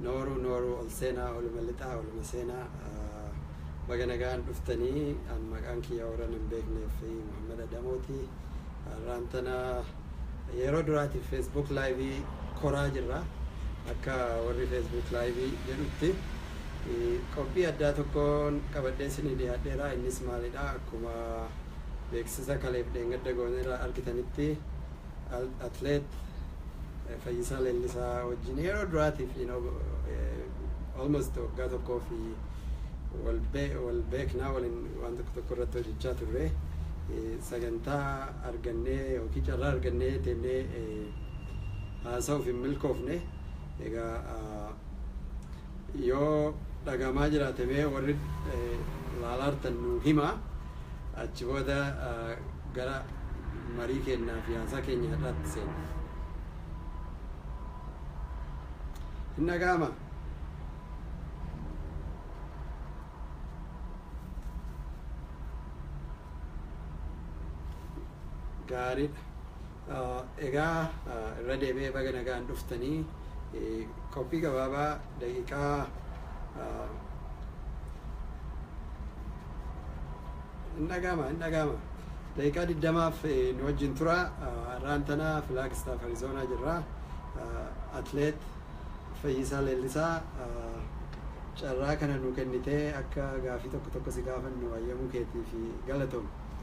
Nooruu nooruu ol seenaa oluma lixaa oluma seenaa ah, baga nagaan dhuftanii an maqaan kiyya warran hin beekneef fi Muhammad Adamooti har'aan tana yeroo duraatiif Facebook live koraa jirra akka warri Facebook live jedhutti eh, qophii addaa tokkoon qabadhee isinii dhiyaadheera innis maalidha akkuma beeksisa kaleef dheengadda gooneerra argitanitti Atleet Fayyisaa Leellisaa wajjin yeroo duraatiif almost waggaa tokkoo fi wal beeknaa waliin waan tokko tokko irratti hojjechaa turre sagantaa argannee yookiin carraa argannee teennee haasa'uuf hin milkoofne egaa Yoo dhagahamaa jiraate mee warri laalaartan nuu himaa. Achi booda gara marii keennaa fi haasaa keenya har'aatti seenna. Hin dhagahama? Gaariidha. Egaa irra deebi'ee baga nagaan dhuftanii qophii gabaabaa daqiiqaa hin dhagaama hin dhagaama daqiiqaa digdamaaf nu wajjin tura har'aan tana filaagistaaf arizoonaa jirra atleet fayyisaa leellisaa carraa kana nu kennitee akka gaafii tokko tokko si gaafannu hayyamuu keetii fi galatoom.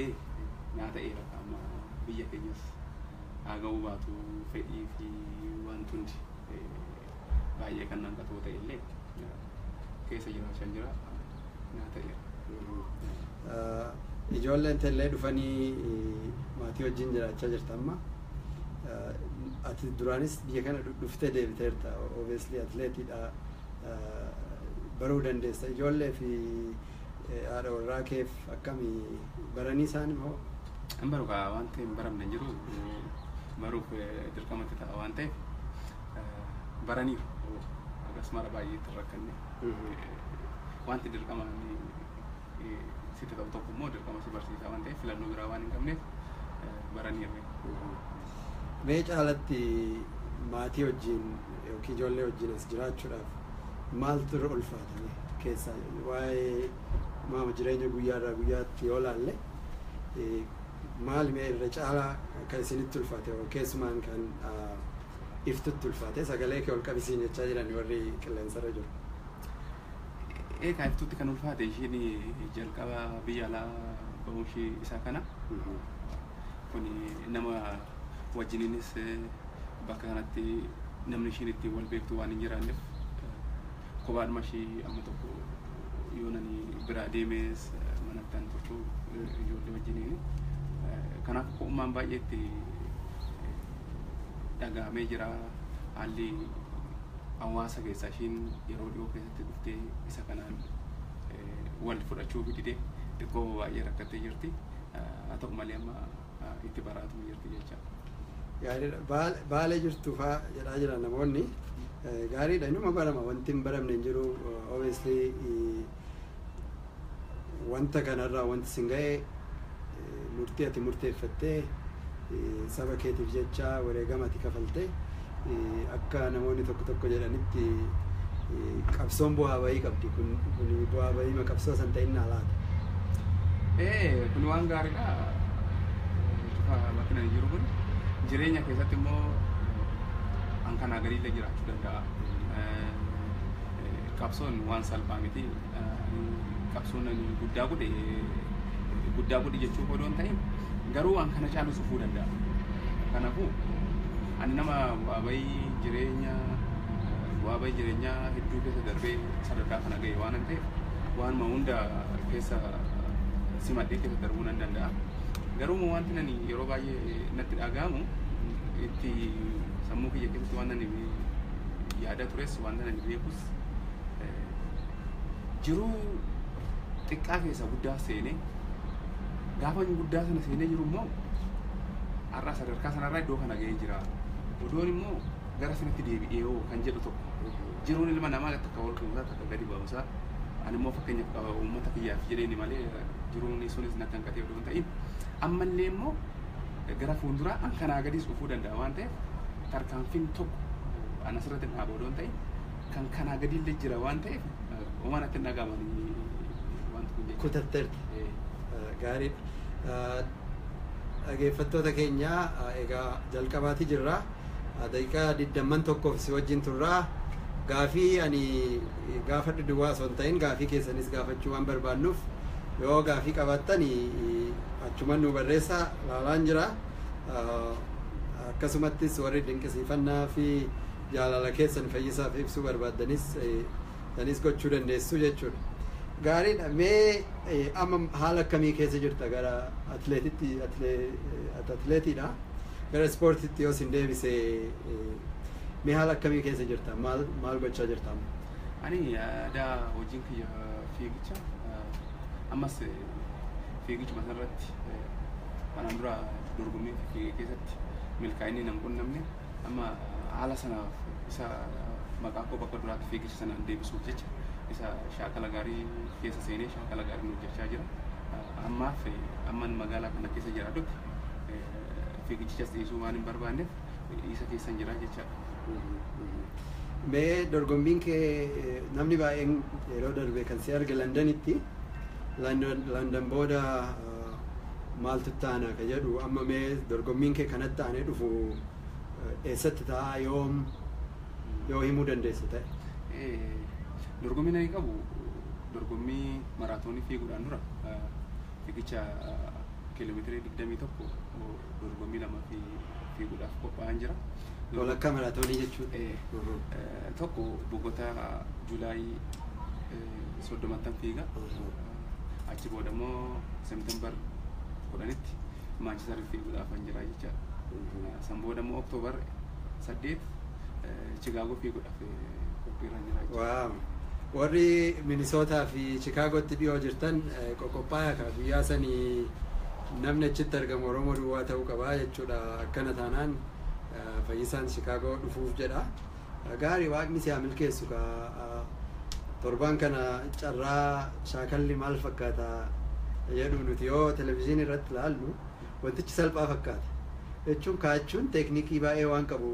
Ee naa ta'eera amma biyya keenyas haa ga'uu baatu fedhii fi wanti hundi baay'ee kan hanqatoo ta'e illee keessa jiraachaa jira naa ta'eera. Ijoolleen teellee dhufanii maatii wajjin jiraachaa jirta amma. Ati duraanis biyya kana dhuftee deebiteerta obviously atileetiidha baruu dandeessa ijoollee fi Haadha warraa keef akkami baranii isaan hoo? Hin baru kaa wanti hin baramne hin jiru baruuf dirqamatti ta'a waan ta'eef baraniiru hagas mara baay'ee itti rakkanne wanti dirqama sitti ta'u tokko immoo dirqama si barsiisaa waan ta'eef filannoo biraa waan hin qabneef baraniiru. Mee caalatti maatii wajjin yookiin ijoollee wajjin as jiraachuudhaaf maaltu irra ulfaata? keessaa waa'ee maama jireenya guyyaarraa guyyaatti yoo laalle maal mee irra caalaa kan isinitti ulfaate keessumaan kan iftutti ulfaate sagalee kee ol qabisiin jechaa jiran warri qilleensarra jiru. Eegaa iftutti kan ulfaate ishiin jalqaba biyya alaa ba'uu ishii isaa kana. Kun nama wajjiniinis bakka kanatti namni ishiin ittiin wal beektu waan hin jiraanneef Kophaadhuma ishii amma tokko yoonani biraa deemees manatti an turtu ijoollee wajjiniin. Kanaaf ko'ummaan baay'ee itti dhaga'amee jira. Haalli hawaasa keessaa ishiin yeroo dhiyoo keessatti dhuftee isa kanaan wal fudhachuu didee xiqqoo baay'ee rakkattee jirti. Haa ta'u malee amma itti baraatuma jirti jecha. Gaariidha. Baal- Baalee jirtu faa jedhaa jiran namoonni. Eh, Gaariidha. Inuma barama. Wanti hin baramne hin jiru. Eh, Obviously eh, wanta kanarraa wanti sin ga'e eh, murtii ati murteeffattee eh, saba keetiif jecha wareegama ati kafalte akka namoonni tokko tokko jedhanitti qabsoon bu'aa bahii qabdi kun kun bu'aa bahii ma qabsoo san ta'innaa laata? Ee kun waan gaariidha. Cufa bakki nani jiru kun jireenya keessatti immoo an kanaa gadiillee jiraachuu danda'a. Qabsoon waan salphaa miti. Qabsoon ani guddaa godhe guddaa godhe jechuu odoo hin ta'in garuu an kana caalu sufuu danda'a. Kanaafuu Ani nama bu'aa ba'ii jireenya bu'aa ba'ii jireenyaa hedduu keessa darbee sadarkaa kana ga'e waan an ta'eef waanuma hunda keessa simadhee keessa darbuu nan danda'a. Garuu immoo wanti ani yeroo baay'ee natti dhaga'amu itti sammuu kiyya keessatti waan ani yaadaa tures waan ani beekus eh, jiruu xiqqaa keessa guddaa seenee gaafa guddaa sana seenee jiru immoo har'aa sadarkaa sanarraa iddoo kana ga'ee jira. Odoon immoo gara sanatti deebi'ee hoo kan jedhu tokko jiruun ilma namaa takka ol ka'umsaa takka gadi ba'umsaa ani immoo fakkeenyaaf qaba uummata kiyyaaf jedheeni malee jiruun sunis na kan qatee odoo hin ta'in ammallee immoo gara fuulduraa an kanaa gadis dhufuu danda'a waan ta'eef tarkaanfiin tokko an asirratti dhaaba odoo hin ta'in kan kanaa gadillee jira waan ta'eef uumaan akka hin dhagaamanii wanti kun jechuudha. Kutatteerta. Eh, Gaariidha. Dhageeffattoota keenya egaa jalqabaati jirra. Daqiiqaa digdamman tokkoof si wajjin turra. Gaafii ani gaafadhu duwwaa osoo hin ta'in gaafii keessanis gaafachuu waan barbaannuuf yoo gaafii qabaattan achuman nu barreessa laalaan jira. Akkasumattis warri dinqisiifannaa fi jaalala keessan fayyisaaf ibsuu barbaaddanis sanis gochuu dandeessu jechuudha. Gaariidha mee eh, amma haala akkamii keessa jirta gara atleetitti atlee- eh, at- atleetiidha gara ispoortitti yoo sin deebise eh, mee haala akkamii keessa jirta maal maal gochaa jirta amma? Ani aadaa hojiin kiyya fiigicha ammas fiigichuma irratti kanaan dura dorgommii keessatti milkaa'inni nan qunnamne Amma haala sanaaf isa maqaa koo bakka duraatti fiigicha sana deebisuuf jecha isa shaakala gaarii keessa seenee shaakala gaariin hojjechaa jira. Ammaaf amman magaalaa kana keessa jiraadhutti fiigichichas dhiisuu waan hin barbaanneef isa keessan jira jechaadha. Mee dorgommiin kee namni baay'een yeroo darbe kan si arge Landanitti. Landan booda maaltu itti aana ka jedhu amma mee dorgommiin kee kanatti aanee dhufu eessatti ta'a yoom yoo himuu dandeessa ta'e. Dorgommiin ani qabu dorgommii maraatoonii fiiguudhaan dura fiigicha kiiloomeetirii 21 dorgommii lama fi fiiguudhaaf qophaa'an jira. Walakkaa maraatoonii jechuun. Tokko Bogota Juulaayii soddomattan fiiga. achi booda immoo September kudhanitti Manchester fiiguudhaaf kan jira jecha san booda immoo October saddeet Chicago fiiguudhaaf qophiirra jira jecha. Waaw. Warri Minisootaa fi Chikaagootti dhiyoo jirtan qoqophaa'aa kaa guyyaa sanii namni achitti argamu Oromoo duwwaa ta'uu qabaa jechuudha. Akkana taanaan fayyisaan Chikaagoo dhufuuf jedha. Gaari waaqni si haa milkeessu kaa torbaan kana carraa shaakalli maal fakkaata jedhu nuti yoo televizyiinii irratti ilaallu wantichi salphaa fakkaata jechuun kaachuun teeknikii baay'ee waan qabu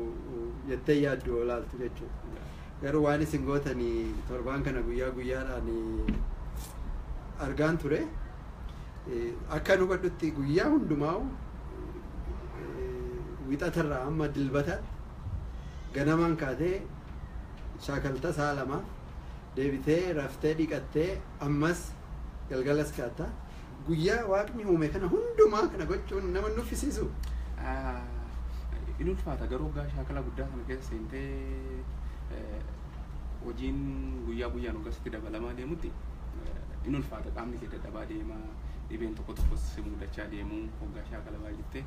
jettee yaaddu yoo ilaaltu jechuudha. Garuu waan isin gootanii torbaan kana guyyaa guyyaadhaan argaan ture akka nu hubadhutti guyyaa hundumaa'u wixatarraa amma dilbataatti Ganamaan kaatee shaakalta sa'a lamaaf, deebitee raftee dhiqattee ammas galgalas kaatta. Guyyaa waaqni uume kana hundumaa kana gochuun nama hin nuffisiisuu? In ulfaata garuu hoggaa shaakala guddaa sana keessa seentee hojiin guyyaa guyyaan hoggaa sitti dabalamaa deemutti in ulfaata qaamni kee dadhabaa deema dhibeen tokko tokkos si muudachaa deemu hoggaa shaakala baay'ifte.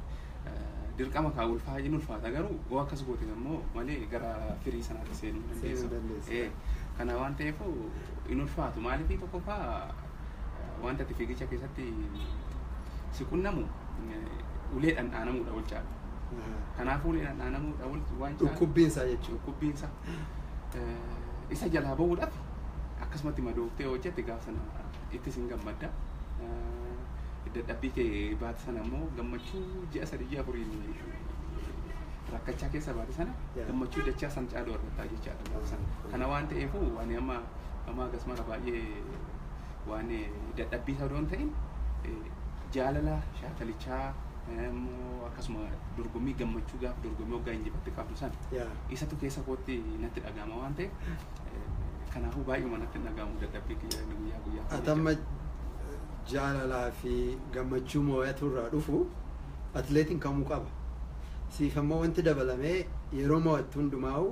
dirqama kaa ulfaa hin ulfaata garuu yoo akkas goote immoo malee gara firii sanaatti seenuu hin Seenuu hin dandeessu. dandeessu. Eh, Kana waan ta'eef hin ulfaatu maaliif tokkoffaa eh, wanta itti fiigicha keessatti si qunnamu eh, ulee dhandhaanamuudha wal caala. Aha. Kanaafuu ulee dhandhaanamuudha wal waan caala. Dhukkubbiin isaa jechuudha. Dhukkubbiin isaa eh, isa jalaa bahuudhaaf akkasumatti madooftee hojjette gaafa sana ittis hin gammadda. Dadhabbii kee baate sana immoo gammachuu ji'a sadii ji'a afuriin rakkachaa keessa baate sana gammachuu dachaa san caaluu argattaa jechaadha gaafa sana. Kana waan ta'eefuu ani amma amma akkas mara baay'ee waan dadhabbii isaa odoon ta'in jaalala shaakalichaa akkasuma dorgommii gammachuu gaafa dorgommii hoggaa injifatte qabdu sana isatu keessa kootti natti dhaga'ama waan ta'eef Kanaafuu baay'uma natti hin dhaga'amu dadhabbii kiyya inni guyyaa guyyaa. Atamma jaalalaa fi gammachuu moo'atu irraa dhufu atileetiin kamuu qaba. Siif ammoo wanti dabalamee yeroo moo'attu hundumaa'u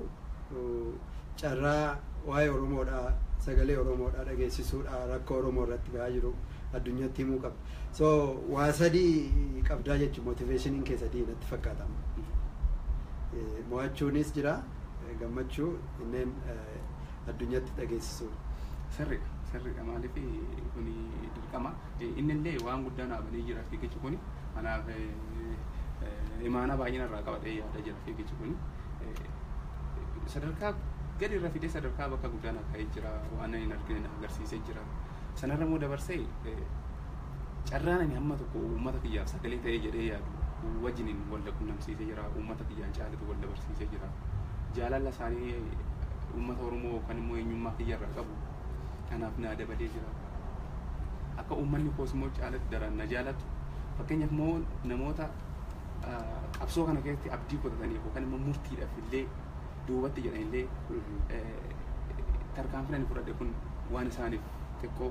carraa waa'ee Oromoodhaa sagalee Oromoodhaa dhageessisuudhaa rakkoo Oromoo irratti gahaa jiru addunyatti himuu qabda. So waa sadii qabdaa jechuun motiveeshiniin kee sadii natti fakkaatama. Moo'achuunis jira gammachuu inneen addunyaatti dhageessisuu. Sirridha sirridha maaliif kuni dirqama innillee waan guddaa naa banee jira fiigichi kuni kanaaf imaanaa baay'ee narraa qaba ta'ee yaada jira fiigichi kuni sadarkaa gadi irra fidee sadarkaa bakka guddaa naa ka'ee jira waan hin argine na agarsiisee jira. Sanarra immoo dabarsee carraan ani hamma tokko uummata kiyyaaf sagalee ta'ee jedhee yaadu wajjiniin wal qunnamsiisee jira. Uummata kiyyaan caalatu wal dabarsiisee jira. Jaalala isaanii uummata Oromoo kan immoo eenyummaa kiyyarraa qabu kanaaf naa dabalee jira. Akka uummanni koos immoo caalatti daraan na jaalatu. Fakkeenyaaf immoo namoota qabsoo kana keessatti abdii kutataniif yookaan immoo murtiidhaaf illee duubatti jedhanillee tarkaanfiin ani fudhadhe kun waan isaaniif xiqqoo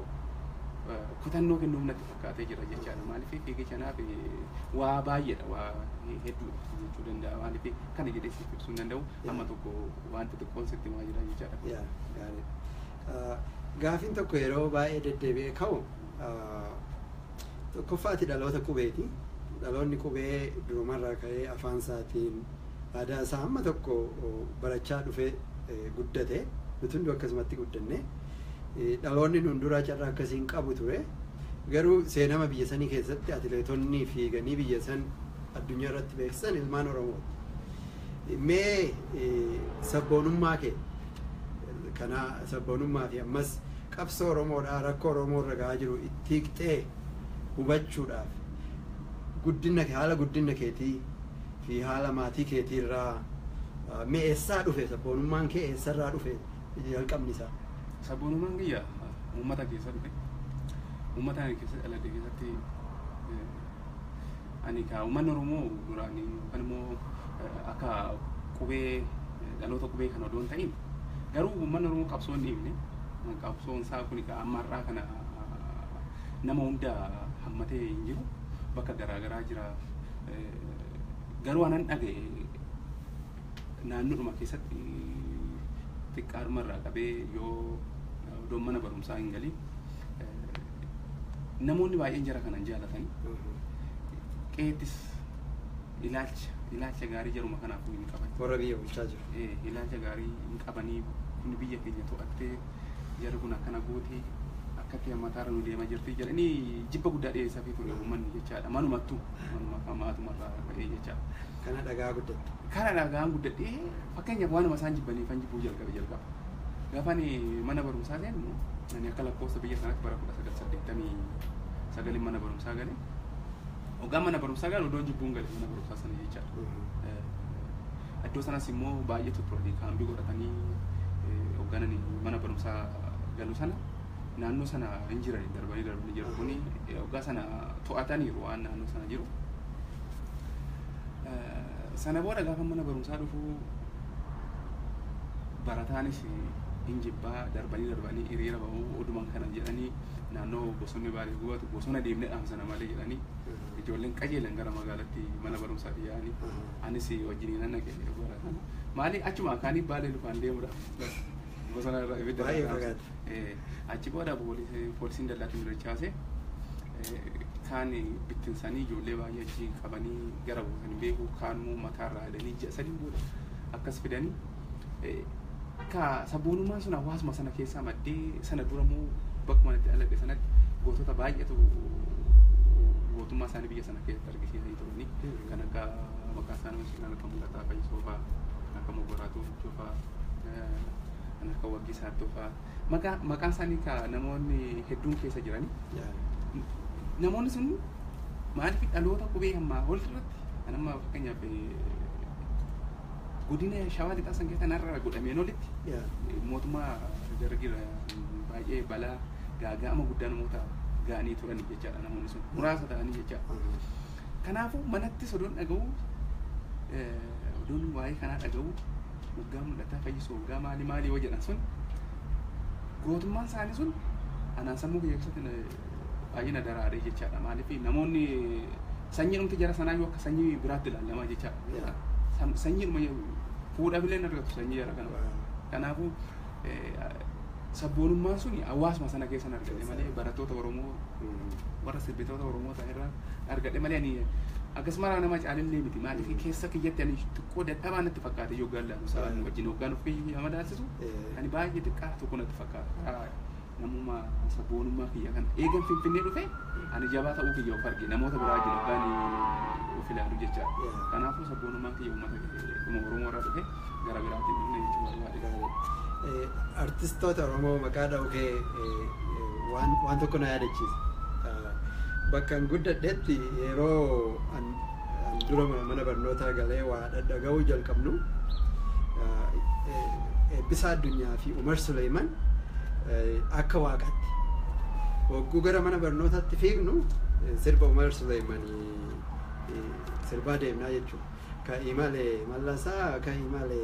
kutannoo kennuuf natti fakkaatee jira jechaadha. Maaliif fiigicha naaf waa baay'eedha waa hedduudha jechuu danda'a. Maaliif kana jedhee siif ibsuu hin danda'u amma tokko wanta xiqqoon sitti himaa jira jechaadha. Yaa gaariidha. Gaafiin tokko yeroo baay'ee deddeebi'ee ka'u Tokkoffaa ati dhaloota qubeeti. Dhaloonni qubee durumarraa ka'ee afaan isaatiin aadaa isaa hamma tokko barachaa dhufee guddate. Nuti hunduu akkasumatti guddanne. Dhaloonni nuun duraa carraa akkasii hin qabu ture. Garuu seenama biyya sanii keessatti atileetonni fiiganii biyya san addunyaa irratti beeksisan ilmaan Oromooti. Mee sabboonummaa kee kana sabboonummaa fi ammas qabsoo Oromoodhaa rakkoo Oromoo irra ga'aa jiru itti hiiktee hubachuudhaaf guddinna kee haala guddinna keetii fi haala maatii keetii irraa mee eessaa dhufe sabboonummaan kee eessa irraa dhufe jalqabni isaa? Sabboonummaan kiyya uummata keessa dhufe. Uummata ani keessa dhaladhe keessatti. Ani kaa uummanni Oromoo duraan yookaan immoo akka qubee dhaloota qubee kan odoo hin ta'in garuu uummanni Oromoo qabsoo hin dhiifne qabsoon isaa kun egaa amma har'aa kana nama hunda hammatee hin jiru bakka garaa garaa jira garuu anan dhaga'e naannoodhuma keessatti xiqqaadhuma irraa qabee yoo odoon mana barumsaa hin galin namoonni baay'een jara kanan jaalatan qeettis ilaalcha ilaalcha gaarii jaruma kanaafuu hin qaban. Warra biyya bulchaa jiru. Eh, ilaalcha gaarii hin qabanii kun biyya keenya to'attee jarri kun akkana gootee akkatti hammataarra nu deema jirti jedhanii jibba guddaa dhiyeessaafii ture uummanni jechaadha manumattu manuma maatumarraa ka'ee jechaadha. kana dhagaa guddatte. Kana dhagaan guddadhee fakkeenyaaf waanuma isaan jibbaniifan jibbuu jalqabe jalqaba. Gaafa ani mana barumsaa seennu ani akka lakkoofsa biyya kanaatti bara kudha sagal saddeettamii sagalin mana barumsaa gale. Ogaa mana barumsaa galu iddoon jibbuun gale mana barumsaa sana jechaadha. Eh, Iddoo sanas immoo baay'eetu turanii kaambii godhatanii eh, hogganan mana barumsaa galu sana naannoo sana hin jirani darbanii darbanii jiru kuni waggaa sana to'ataniiru waan naannoo sana jiru. Sana booda gaafa mana barumsaa dhufu barataanis hin jibbaa darbanii darbanii hiriira ba'uu oduman kana jedhanii naannoo bosonni baalee gubatu bosona deemnee dhaamsana malee jedhanii ijoolleen qajeelan gara magaalatti mana barumsaatti yaa'anii anis wajjiniin naqe barataan maali achuma kaanii baalee lufaan deemudha. Bosona irra ibidda Baay'ee irra fagaata. dhaabsise. Eh, Achi booda poolisi- poolisiin dallaatti nu dachaase. Eh, Kaan bittinsanii ijoollee baay'ee achi qabanii gara buusan hin beeku. Kaan immoo mataa irraa hidhanii ji'a sadiin booda akkas fidanii. Eh, Ka sabboonummaan sun hawaasuma sana keessaa maddee sana dura immoo bakkuma itti dhaladhe sanatti gootota baay'eetu gootummaa isaanii biyya sana keessatti argisiisanii turanii. Kan akka maqaa isaanii kan akka mul'ataa fayyisoo fa'aa kan akka mogoraatu kan akka Waggii Saaddoo fa'aa maqaa maqaan isaanii ka namoonni hedduun keessa jirani. Namoonni sun maaliif dhaloota qubee ammaa ol irratti kan amma fakkeenyaaf godina shawaa lixaa san keessa narra godhameen olitti mootummaa dargiirra baay'ee balaa gaaga'ama guddaa namoota ga'anii turani jechaadha namoonni sun muraasa ta'anii jechaadha. Kanaafuu manattis odoon dhaga'u odoon waa'ee kanaa dhaga'u waggaa mul'ataa fayyisu waggaa maali maali yoo jedhan sun gootummaan isaanii sun anaan sammuu kiyya keessatti baay'ee na daraaree jechaadha maaliif namoonni sanyii dhumti jara sanaa yoo akka sanyii biraatti ilaalamaa jechaadha sanyiidhuma fuudhaaf illee hin argatu sanyii jara kana kanaafuu sabboonummaan sun hawaasuma sana keessan argadhe malee barattoota Oromoo warra sirbitoota Oromoo ta'an irraa argadhe malee ani akkasumarraa nama caalillee miti maaliif keessa kiyyatti ani xiqqoo dadhabaa natti fakkaate yoo gaallaanu sa'aan wajjin hoggaan of kiyya madaalsisu ani baay'ee xiqqaa tokko natti fakkaata. Namuma sabboonummaa kiyya kan eegan Finfinnee dhufe ani jabaa ta'uu kiyya of arge namoota biraa jiru kan of ilaalu jecha. Kanaafuu sabboonummaan kiyya uummata kuma Oromoo irraa dhufe gara biraatiin dhufne jechuu barbaade. Artistoota Oromoo maqaa dha'uu kee waan tokko na yaadachiisa. Bakka an guddadhetti yeroo dura mana barnootaa galee waa dhaga'uu jalqabnu Eebbisaa Addunyaa fi Umar Suleeman akka waaqatti hogguu gara mana barnootaatti fiignu sirba Umar Suleeman sirbaa deemnaa jechuudha. Ka imale mallasaa ka imale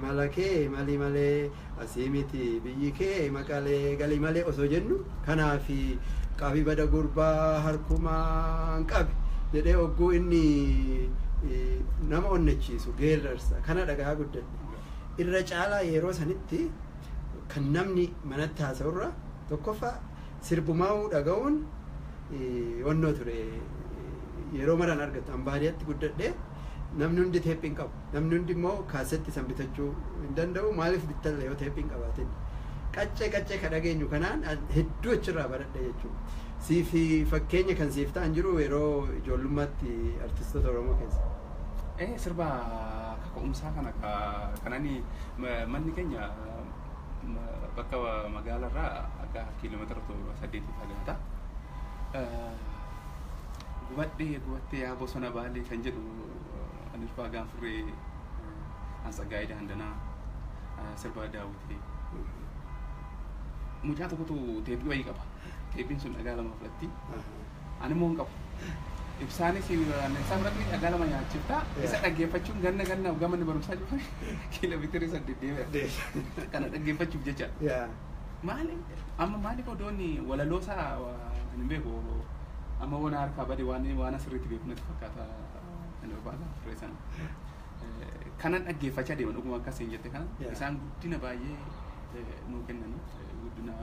malakee mali malee Asii miti biyyi kee maqalee gali malee osoo jennu kanaafi qabi bada gurbaa harkumaan qabi jedhee ogguu inni nama onnachiisu geerrarsa kana dhagahaa guddadhe. Irra caalaa yeroo sanitti kan namni manatti haasa'urra tokkoffaa sirbumaa'uu dhaga'uun onnoo ture yeroo maraan argattu. An baadiyatti guddadhee namni hundi teephiin qabu. Namni hundi immoo kaasetti san bitachuu hin danda'u. Maaliif bittalla yoo teephi hin qabaatin? Qaccee qaccee ka dhageenyu kanaan hedduu achirraa baradhe jechuun. Siif fakkeenya kan siif ta'an jiru yeroo ijoollummaatti artistoota Oromoo keessa? Ee sirba kaka'umsaa kana ka kanani manni keenya bakka magaalarraa akka kiiloomeetira torba saddeetii fagaata. Gubadhee gubattee yaa bosona baalee kan jedhu Ani Ulfaa Gaanfurree An Tsaggaayee Daandanaa ah, Sirbaa Daawwitee Mucaa tokkotu teephii wayii qaba Teephiin sun dhagaa lama fudhatti Ani immoo hin qabu Ibsaanis isaa biratti dhagaa lama nyaachifta Isa dhaggeeffachuun ganna ganna hoggaa manni barumsaa cufa Kiiloomeetirii saddeet deebi'a Kana dhaggeeffachuuf jecha Maali amma maaliif odoonni walaloo isaa ani hin beeku amma waan harkaa bade waan waan asirratti beeku natti fakkaata Kanan dhaggeeffachaa deema dhuguma akkas hin jette kana Yeah. isaan guddina baay'ee eh, nuu kennanii eh, guddina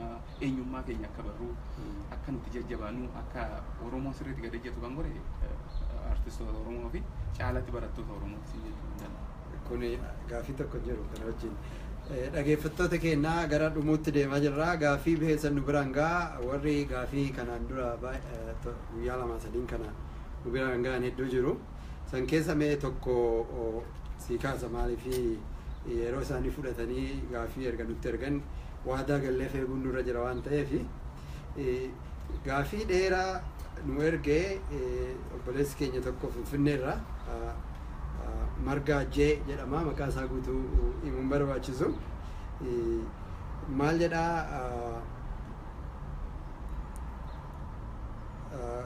eenyummaa keenya akka barru akka nuti jajjabaannu akka Oromoon sirriitti gad ejjatu kan godhe eh, artistoota Oromoo fi caalatti barattoota Oromoo siin jechuu hin danda'u. Kuni gaafii tokko hin jiru kana wajjin. Eh, Dhageeffattoota keenya gara dhumuutti deemaa jirra. Gaafii keessan nu biraan gaa warri gaafii kanaan dura baay- eh, to- guyyaa lamaa sadiin kana nu biraan ga'an hedduu jiru. San keessa mee tokko sii kaasa maaliif yeroo isaanii fudhatanii gaaffii erga nutti ergan waadaa gallee feeguun nurra jira waan ta'eef gaaffii dheeraa nu ergee obboleessi keenya tokko finfinneerra margaa jee jedhama maqaa isaa guutuu himuun barbaachisu maal jedhaa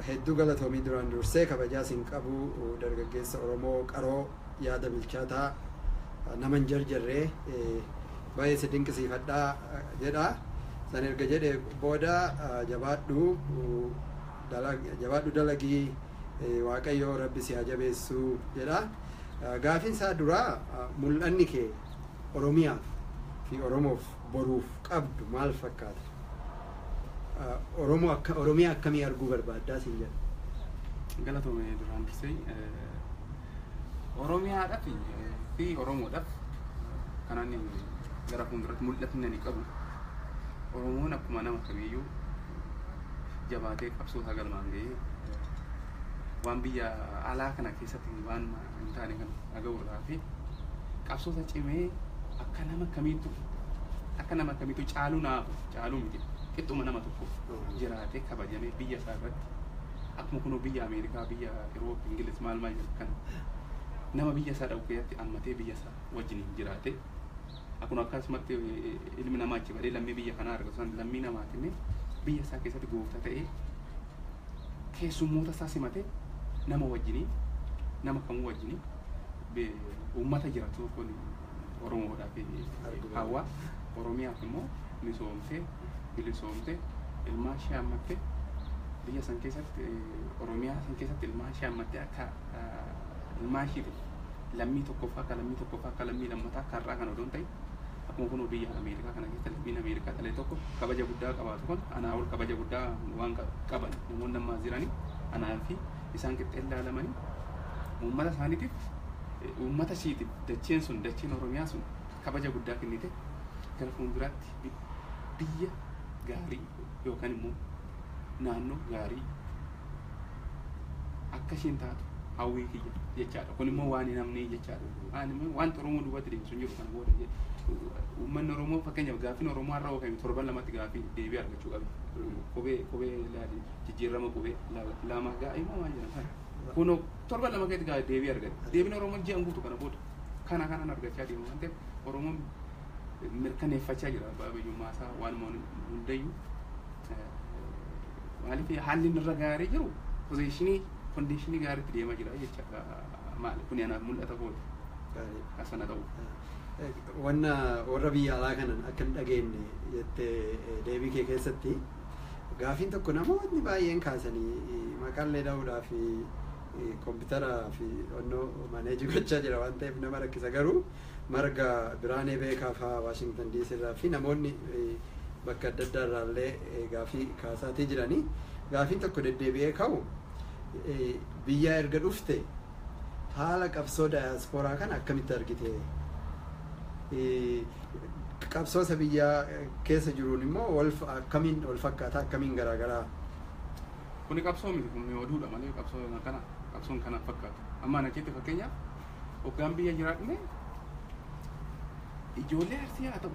Hedduu galatoomii duraan dursee kabajaa sin qabu dargaggeessa Oromoo qaroo yaada bilchaataa nama hin jarjarree baay'ee si dinqisiifadha jedha. San erga jedhe booda jabaadhu jabaadhu dalagii waaqayyoo rabbi si haa jabeessu jedha. Gaafiin isaa duraa mul'anni kee Oromiyaaf fi Oromoof boruuf qabdu maal fakkaata? Oromoo akka Oromiyaa akkamii arguu barbaaddaa siin jedha? Galatoome duraan dursee Oromiyaadhaaf fi Oromoodhaaf kan ani gara fuulduratti mul'atni ani qabu Oromoon akkuma nama kamiiyyuu jabaatee qabsoo isaa galmaan ga'ee waan biyya alaa kana keessatti waan hin taane kan dhaga'u irraa hafe qabsoota cimee akka nama kamiitu akka nama kamiitu caaluu naafu caaluu miti qixxuma nama tokko jiraatee kabajamee biyya isaa irratti akkuma kunoo biyya Ameerikaa biyya Iroop Ingiliz maal maal jedhu kana nama biyya isaa dhaqu keessatti ammatee biyya isaa wajjiniin jiraatee Akkun akkasumatti ilmi namaa achi badee lammii biyya kanaa argatu san lammii namaati mee biyya isaa keessatti goofta ta'ee keessummoota isaa simate nama wajjinii nama kamuu wajjinii be- uummata jiratu kun Oromoodhaaf hawaa Oromiyaaf immoo misoomtee bilisoomtee ilmaan ishee hammattee biyya san keessatti eh, Oromiyaa san keessatti ilmaan ishee hammattee akka ah, ilmaan ishiiti lammii tokkoffaa akka lammii tokkoffaa akka lammii lammataa akka har'aa kana odoo hin ta'in akkuma kunoo biyya Ameerikaa kana keessa lammiin Ameerikaa dhalee tokko kabaja guddaa qabaatu kun anaa ol kabaja guddaa waan qa- qaban namoonni ammaa jiranii anaa fi isaan qixxee ilaalamanii uummata isaaniitiif eh, uummata ishiitiif dacheen sun dacheen Oromiyaa sun kabaja guddaa kennite gara fuulduraatti bi- biyya gaarii yookaan immoo naannoo gaarii akka isheen taatu hawwii kiyya jechaadha. Kun immoo waan hin amnee jechaadha. Waan immoo wanta Oromoo duubatti deemsu hin jiru kana booda jedhe. Uummanni Oromoo fakkeenyaaf gaaffiin Oromoo har'a oofame torban lamatti gaaffii deebii argachuu qabe. Qubee qubee laali jijjiirama qubee la- lama gaa'ee moo maal jedhama kana. Kun torban lama keessatti gaa- deebii argate. Deebiin Oromoo ji'an guutu kana booda. Kana kanan argachaa deema waan ta'eef Oromoon mirkaneeffachaa jira abbaa biyyummaa isaa waanuma hundayyuu maaliif haalli inni irra gaarii jiru poziishinii kondiishinii gaariitti deemaa jira jechaadha maali kun anaaf mul'ata kooti Gaarii. asana ta'u Wanna warra biyya alaa kanan akka hin dhageenye jettee eh, deebii kee keessatti gaafiin tokko namoonni baay'een kaasanii eh, maqaallee dha'uudhaa fi eh, kompiitaraa fi onnoo maneejii gochaa jira waan ta'eef nama rakkisa garuu Marga Biraanee Beekaa faa Washington DC irraa fi namoonni bakka adda addaa irraa illee gaafii kaasaatii jirani. Gaafiin tokko deddeebi'ee ka'u biyyaa erga dhufte haala qabsoo dayaaspooraa kana akkamitti argite? Qabsoo isa biyyaa keessa jiruun immoo wal akkamiin wal fakkaataa akkamiin garaagaraa? Kuni qabsoo miti kun oduudha malee qabsoo kana qabsoon kana fakkaatu. Amma ana keetti fakkeenyaaf hoggaan biyya jiraadhullee ijoollee arsii haa ta'u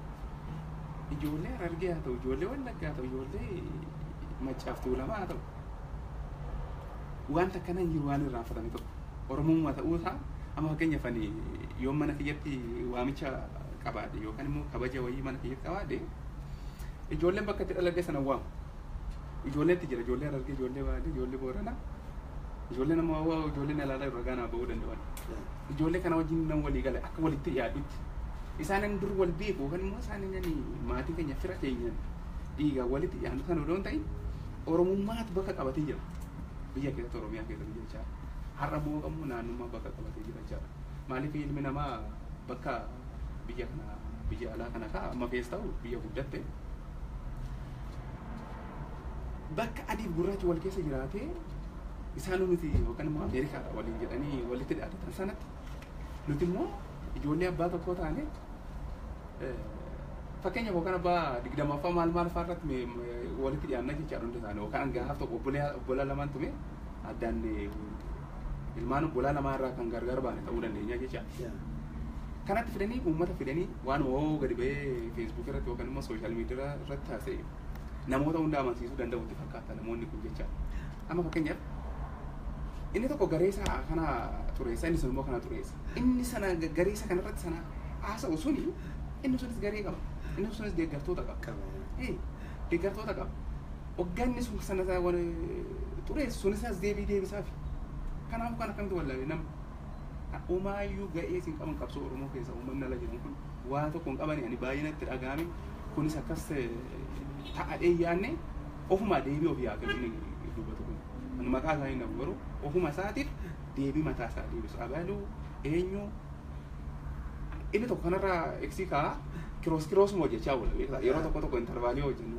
ijoollee harargee haa ta'u ijoollee wallaggaa haa ta'u ijoollee maccaaf tuulamaa haa ta'u wanta akkana hin jiru waan irraanfatame tokko oromummaa ta'uu isaa amma fakkeenyaaf ani yoo mana kiyyatti waamicha qabaadhe yookaan immoo kabaja wayii mana kiyyatti qabaadhe ijoolleen bakka itti dhaladhe sana waamu Ijoolleetti jira, ijoollee Harargee, ijoollee Baalee, ijoollee Booranaa, ijoollee nama hawaa, ijoollee nalaalaa irra gaanaa ba'uu danda'an. Ijoollee kana wajjin nan walii gala akka walitti dhiyaadhutti. Isaanan dur wal beeku yookaan immoo isaanan maatii keenya fira keenyaan dhiigaan walitti dhiyaannu sana odoo hin ta'in Oromummaatu bakka qabatee jira. Biyya keessatti Oromiyaa keessatti jechaa har'a immoo qabu naannummaa bakka qabatee jira jechaadha. Maaliif ilmi namaa bakka biyya kana biyya alaa kana ka'a amma keessa ta'u biyya guddatte bakka adiif gurraachi wal keessa jiraatee isaanuu nuti yookaan immoo Ameerikaadha waliin jedhanii walitti dhiyaatan sanatti nuti immoo ijoollee abbaa tokkoo taane fakkeenya yookaan abbaa digdamaffaa maal maal fa'aa irratti me- me- walitti dhiyaanna jechaadha hundi isaanii yookaan hangaa tokko obbolaa obbolaa lamaan tume addaan eh, ilmaan obbolaa namaa irraa kan gargar baane ta'uu dandeenya jecha. Kanatti fidanii uummata fidanii waan hoo gadi ba'ee feesbuukii irratti yookaan immoo sooshaal miidiyaa irratti haasa'e namoota hunda amansiisuu danda'u itti fakkaata namoonni kun jecha. Amma fakkeenyaaf inni tokko garee isaa kana xureessa inni sun immoo kana xureessa. Inni sana garee isa kanarratti sana haasa'u suni inni sunis garee qaba. Inni sunis deeggartoota qaba. Deeggartoota qaba. Hogganni sun sana isaa waan xureessu sun isaas deebii deebisaafi. Kanaafuu kan akkamitti wallaale nama. Umaayyuu ga'ees hin qaban qabsoo Oromoo keessa uummanni ala jiran kun waa tokko hin qabani ani baay'ee natti dhaga'ame kunis akkas ta'adhee yaanne ofumaa deebii ofii haa kennu dubbatu kun. Ani maqaa isaa hin dhabu garuu ofuma isaatiif deebii mataa isaa deebisu abaluu eenyu inni tokko kanarraa eegsii ka'a kiroos kiroosuma hojjechaa oola beektaa yeroo tokko tokko intarvaalii hojjennu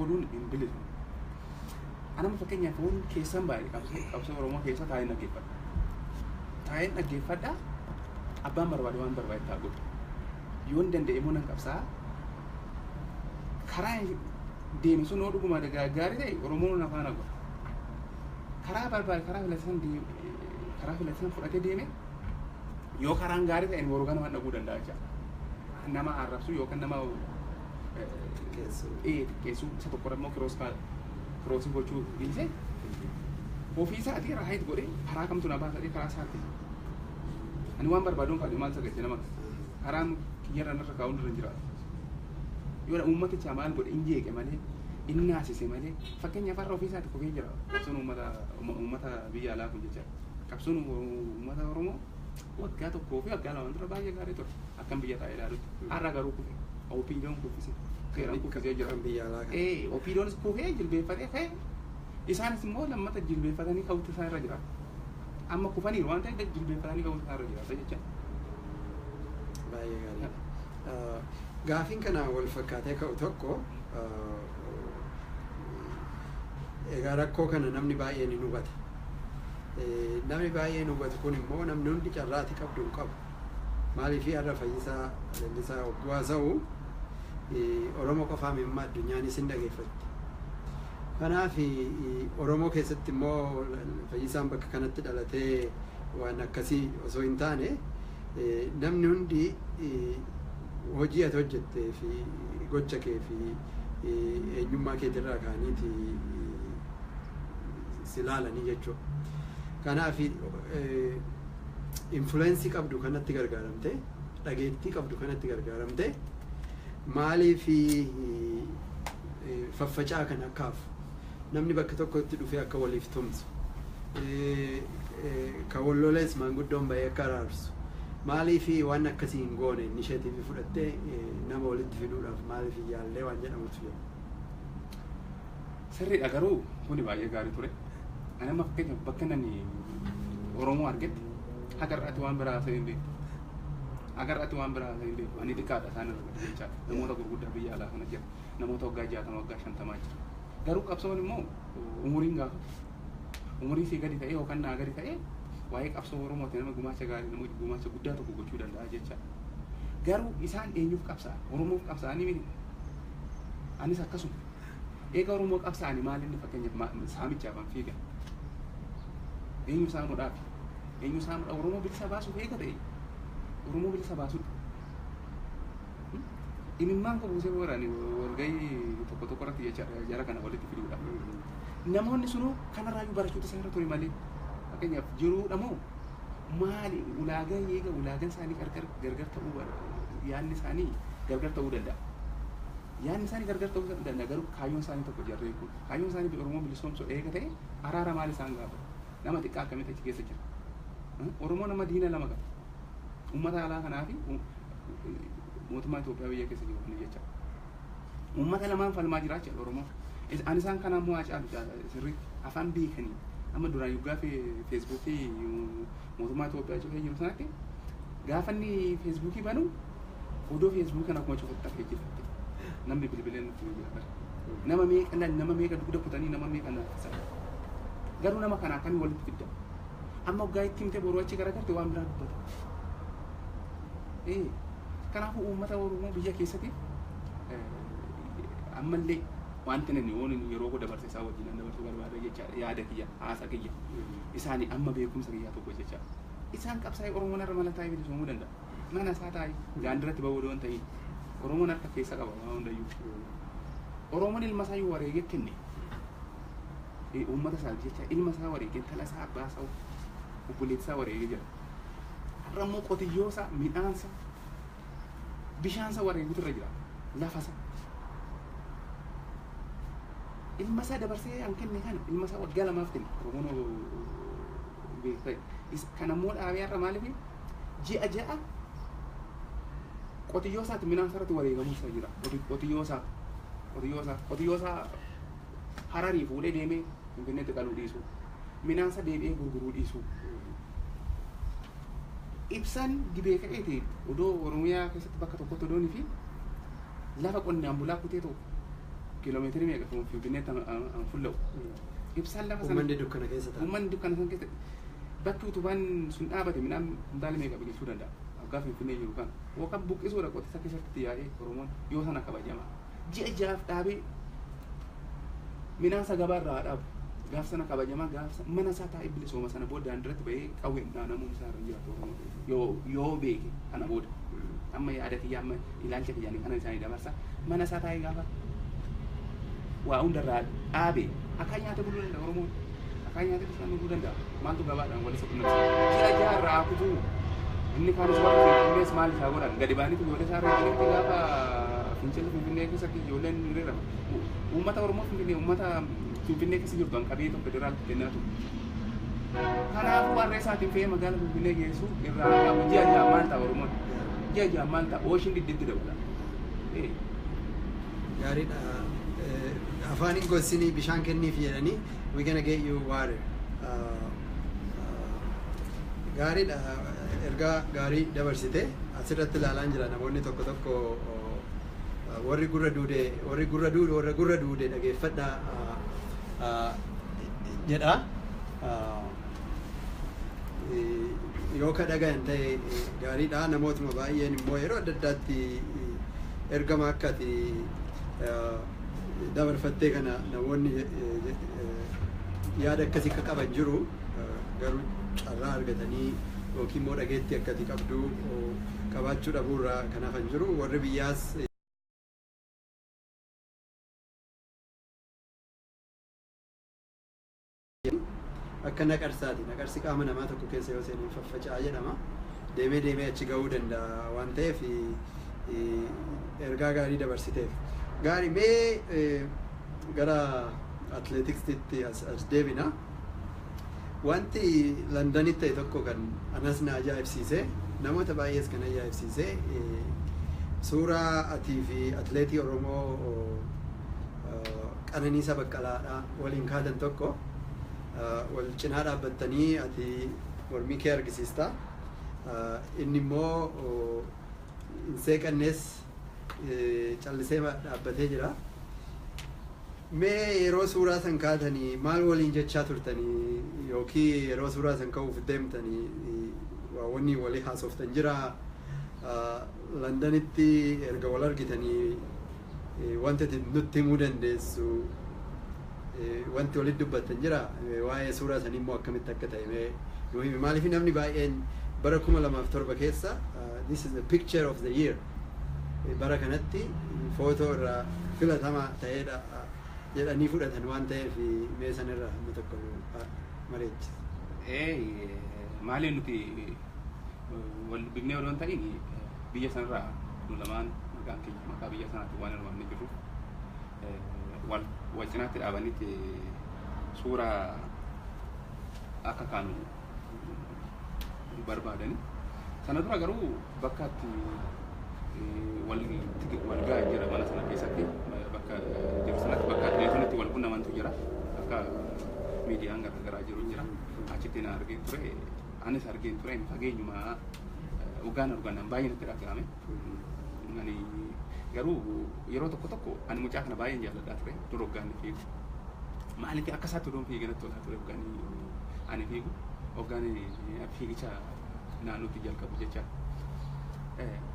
oduun hin bilisomu. Anama fakkeenyaaf foon keessan baay'ee qabsoo qabsoo Oromoo keessa taa'een dhaggeeffadha. Taa'een dhaggeeffadha abbaan barbaade waan barbaade ta'a godhu. Yoon danda'e immoo nan qabsaa karaa deeme sun yoo dhuguma gaarii ta'e Oromoon na faana godha. Karaa barbaade karaa filatan karaa filatan fudhatee deeme yoo karaan gaarii ta'e boru ganamaan dhaguu danda'a jecha. Nama arrabsu yookaan nama xiqqeessuu isa tokko immoo kiroos kiroosii gochuu dhiisee ofii isaatii raayit godhee karaa kamtu na baasatee karaa isaatti ani waan barbaaduun kaadhi maal sagalte nama karaan kiyyarra narra kaa'uun irra hin jiraatu yoo uummaticha maal godhe hin jeeqe malee hin naasise malee fakkeenyaaf har'a ofii isaatti kufee jira qabsoon uummata uummata biyya alaa kun jecha qabsoon uummata oromoo waggaa tokkoo fi waggaa lamaan dura baay'ee gaarii ture. akkan biyya taa'ee ilaalutti. Har'a garuu kufe. OPDOn kuffise. Qeerroon kuffisee jira. Kan biyya alaa kana. Ee, OPDOnis kufee jilbeeffatee ka'e. Isaanis immoo lammata jilbeeffatanii ka'uutu isaan irra jira. Amma kufaniiru waan ta'eef jilbeeffatanii ka'uutu isaan irra jiraata jecha. Baay'ee gaariidha. Ah, Gaafiin kanaan wal fakkaatee ka'u tokko ah, egaa rakkoo kana namni baay'een hin hubata. Eh, Namni baay'een hubatu kun immoo namni hundi carraati qabdu hin qabu. Maaliifii har'a Fayyisaa Leellisaa hogguu haasa'u Oromoo qofaa miti amma addunyaanis hin dhageeffatti. Kanaaf Oromoo keessatti immoo Fayyisaan bakka kanatti dhalatee waan akkasii osoo hin taane namni hundi hojii ati hojjettee fi gocha kee fi eenyummaa keetirraa kaaniiti si laalanii jechuudha. Kanaaf influence qabdu kanatti gargaaramte dhageettii qabdu kanatti gargaaramte maaliif faffacaa kan akka hafu namni bakka tokkotti dhufee akka waliif tumsu kan wallolees maanguddoon bahee akka araarsu maaliif waan akkasii hin goone inisheetiivii fudhattee nama walitti fiduudhaaf maaliif hin yaallee waan jedhamutu jira. Sirriidha garuu kuni baay'ee gaarii ture. Ani amma fakkeenyaaf bakka nani Oromoo argetti haga irraatti waan biraa haasa'ee hin beeku. Haga irraatti waan biraa haasa'ee hin beeku. Ani xiqqaadha isaan irra gadi jechaa namoota gurguddaa biyya alaa kana jira. Namoota waggaa jaatama waggaa shantamaa jira. Garuu qabsoon immoo umuriin gaafata. Umurii sii gadi ta'ee yookaan naa gadi ta'ee waa'ee qabsoo Oromooti nama gumaacha gaarii nama gumaacha guddaa tokko gochuu danda'a jechaa. Garuu isaan eenyuuf qabsaa'an? Oromoof qabsaa'anii miti. Anis akkasuma. Eega Oromoo qabsaa'ani maal inni fakkeenyaaf ma- saamichaaf an fiiga? Eenyu saamudhaaf? Eenyu saamudha? Oromoo bilisa baasuuf eega ta'e. Oromoo bilisa baasudha. Hmm? Imimmaan koo buusee warani walgahii tokko tokko irratti jecha jara kana walitti fiduudha. Namoonni sunuu kanarraayyuu barachuutu isaan irra ture malee. Fakkeenyaaf jiruudha moo maali ulaagaa eega ulaagaan isaanii gargar gargar ta'uu bar- yaadni isaanii gargar ta'uu danda'a. Yaadni isaanii gargar ta'uu danda'a garuu kaayyoon isaanii tokko jarreen kun. Kaayyoon isaanii Oromoo bilisoomsuu eega ta'e araara maal isaan gaafata? Nama xiqqaa akkamitti achi keessa jira? Oromoo nama diina lama qaba. Uummata alaa kanaa fi mootummaa Itoophiyaa biyya keessa jiru kana jecha. Uummata lamaan falmaa jira jechuudha Oromoo. Ani isaan kanaa immoo haa caalu sirriitti afaan beekanii amma duraan yoggaa feesbuukii mootummaa Itoophiyaa cufee jiru sanatti gaafanni feesbuukii banuu Odoo feesbuukiin akkuma cufatte hafee jirti. Namni bilbilee nutti hima jira bara. Nama meeqa lal nama meeqa dugda kutanii nama meeqa naaffisan. Garuu nama kana akkamii walitti fidda? Amma waggaa itti himte boruu achi garagarte waan biraa dubbata. Ee kanaafuu uummata Oromoo biyya keessatiif ammallee wanti nani oon yeroo koo dabarse isaa wajjin nan dabarsuu barbaada jechaadha yaada kiyya haasa kiyya isaani amma beekumsa kiyyaa tokko jechaadha. Isaan qabsaa'ee Oromoon irra mala taa'ee bilisoomuu danda'a. Mana isaa taa'i. Daandirratti ba'uu odoo hin ta'iin. Oromoon harka keessa qaba waan hundayyuu. Oromoon ilma isaa yoo wareegee kenne eh, uummata isaaf jecha ilma isaa wareegee intala isaa abbaa isaa obboleessa isaa wareegee jira. Har'a immoo qotiyyoo isaa midhaan isaa bishaan isaa wareeguutu irra jira. Lafa isaa. ilma isaa dabarsee an kenne kana ilma isaa waggaa lamaaf kenne oromoon beektee kan ammoo dhaabee har'a maaliif ji'a ja'a qotiyyoo isaati midhaan isaarratti wareegamuu isaa jira. Qoti- Qotiyyoo isaa qotiyyoo isaa qotiyyoo isaa hararii fuudhee deemee finfinneetti qaluu dhiisuu midhaan isaa deebi'ee gurguruu dhiisuu ibsaan gibee ka'eeti odoo oromiyaa keessatti bakka tokkotti odoo fi lafa qonnaan bulaa kutee tokko kiiloomeetirii meeqa kan finfinneetti an- an- an fulla'u ibsaan lafa sana Uummanni dukkana keessa ta'a. uummanni dukkana sana keessatti Bakki utubaan sun dhaabate midhaan kuntaala meeqa biqilchuu danda'a? Hoggaa Finfinnee jiru kana. Yookaan buqqisuudha qotisa keessatti itti yaa'ee Oromoon yoo sana kabajama. Ji'a ja'aaf dhaabee midhaan isaa gabaa irraa haa dhaabu. Gaaf sana kabajamaa gaaf sana mana isaa taa'ee bilisooma sana booda daandirratti bahee qawween dhaanamuun isaa irra hin jiraatu Oromoo ta'e yoo yoo beeke kana booda. Amma yaada kiyya amma Ilaalcha kiyyaan kanan isaanii dabarsa. Mana isaa taa'ee gaafa waa hundarraa dhaabe akkaan nyaatee buluu danda'a Oromoon. Akkaan nyaatee bishaan dhuguu danda'a. Maaltu gabaadhaan walitti qunnamsiisa? Ji'a ja'a irraa haa kutuu. Inni kaanis warri Finfinnees maal isaa godhan? Gadi ba'anii ijoollee isaa irraa jirti gaafa fincilli Finfinnee keessatti ijoolleen ni reebama. U- Uummata Oromoo Finfinnee uummata Finfinnee keessa jirtu kan qabee tokko federaal kennaa ture. Kanaafuu harree isaatiin fe'ee magaalaa Finfinnee geessu irraa qabu ji'a ja'a maal ta'a Oromoon? Ji'a ji'aan maal ta'a? Ooshin didditti dabala. Ee. gaariidha Eh, afaan hin gossinii bishaan kenniif jedhanii we gonna get you water Ah, ah, gaariidha Eh, ergaa gaarii dabarsite asirratti ilaalaan jira namoonni tokko tokko oh, ah, warri gurra duude warri gurra duude warra gurra duude dhageeffadha ah, ah, jedha Ah, yoo ka dhagayan ta'e gaariidha namootuma baay'een immoo yeroo adda addaatti ergama akka ati dabarfattee kana namoonni yaada akkasii akka qaban jiru garuu carraa argatanii yookiin immoo dhageettii akka ati qabdu qabaachuu dhabuurraa kan hafan jiru warri biyyaas akka naqarsaati. Naqarsi qaama namaa tokko keessa yoo seene hin faffaca'a jedhama. Deemee deemee achi ga'uu danda'a waan ta'eef ergaa gaarii dabarsiteef. Gaarii mee gara atileetiksitti as as deebina. Wanti Landanitti ta'e tokko kan anas na ajaa'ibsiise namoota baay'ees kan ajaa'ibsiise suuraa atii fi atileetii Oromoo Qananiisa Baqqalaa dha waliin kaatan tokko wal cinaa dhaabbattanii ati mormii kee argisiista inni immoo hin seeqannees callisee dhaabbatee jira. Mee yeroo suuraa san kaatanii maal waliin jechaa turtanii yookii yeroo suuraa san ka'uuf deemtanii waa wanni walii haasoftan jira Landanitti erga wal argitanii Eh, Wanti ati nutti himuu dandeessu eh, wanti walitti dubbattan jira Eh, waa'ee suuraa sanii immoo akkamitti akka ta'e mee nu himi maaliif namni baay'een bara 2007 keessa ah, this is the picture of the year Eh, bara kanatti footoo irraa filatamaa ta'eedha ah, jedhanii fudhatan waan ta'eef eh, mee san irraa hamma tokko nu ah, mari'achi. Eh, maaliif nuti eh, wal dubbifnee odoo hin ta'in eh, Biyya sanarraa nu lamaan maqaan keenya maqaa biyya sanaatiin waan hirmaannee jirruuf wal wal cinaatti dhaabanitti suura akka kaanu barbaadani. Sana dura garuu bakka itti wal wal gahan jira mana sana keessatti bakka jiru sanatti bakka telefoonitti wal qunnamantu jira akka miidiyaan garaagaraa jiru jira achitti na argee ture Anis argeen ture ani fageenyuma hoggaan argu anaan baay'ee natti dhaga'ame. Ani garuu yeroo tokko tokko ani mucaa kana baay'een jaalladhaa ture dur hoggaan ni fiigu. Maaliif akka isaatti odoon fiigee natti tolaa ture hoggaan ani fiigu hoggaan fiigicha naannootti jalqabu jecha.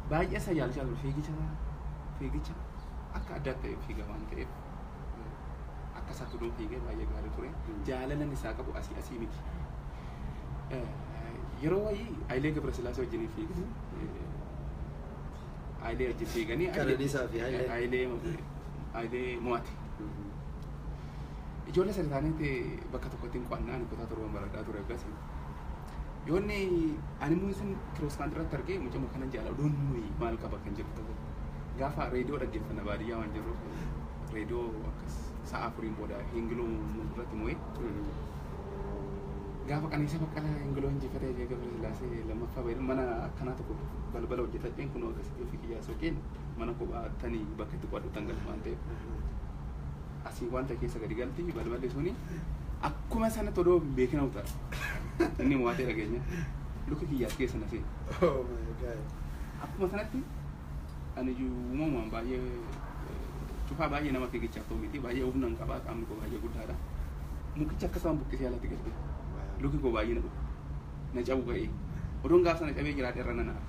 Baay'ee isa jaalachaa ture fiigicha fiigicha akka addaatti ta'e fiiga waan ta'eef. akka isaa tuduun fiigee baay'ee gaarii ture. Jaalalan isaa qabu asii asii miti. Yeroo wayii Hayilee Gabrasillaasee wajjin fiigni. Hayilee wajjin fiiganii. Qananiisaa fi Hayilee. Hayilee Hayilee mo'ate. Ijoollee sadi taanee bakka tokkotti hin qo'annaa ani kutaa torban baradhaa ture akkasii. Yoo inni ani immoo isin kirooskaan irratti argee mucama kanan jaala oduun nuyi maal qaba kan jedhu ta'e gaafa reediyoo dhaggeeffanna baadiyyaa waan jirruuf reediyoo akkas sa'a afuriin booda hingiloo nuuf irratti mo'ee gaafa qananiisa baqqalaa hingiloo injifatee fi gabra sillaasee lammaffaa bahe mana akkanaa tokko balbala hojjetadheen kun akkasitti ofii kiyyaa soqeen mana kophaa tanii bakka itti qo'adhu tan galu waan ta'eef Asii wanta keessa gadi galti balballi suni akkuma sanatti odoo hin beekin hawutan. Inni mo'atee dhageenya. Luka kiyya as keessa na seeni. Oh my God. Akkuma sanatti ani iyyuu uumamumaan baay'ee eh, cufaa baay'ee nama fiigichaaf ta'u miti. Baay'ee humna hin qabaa qaamni koo baay'ee guddaadha. Mukicha akkasumaan buqqisee alatti gadi. Wow. Luki koo baay'ee na dhufa. na cabu ga'ee odoon gaaf sana cabee jiraadhe irra nan aare.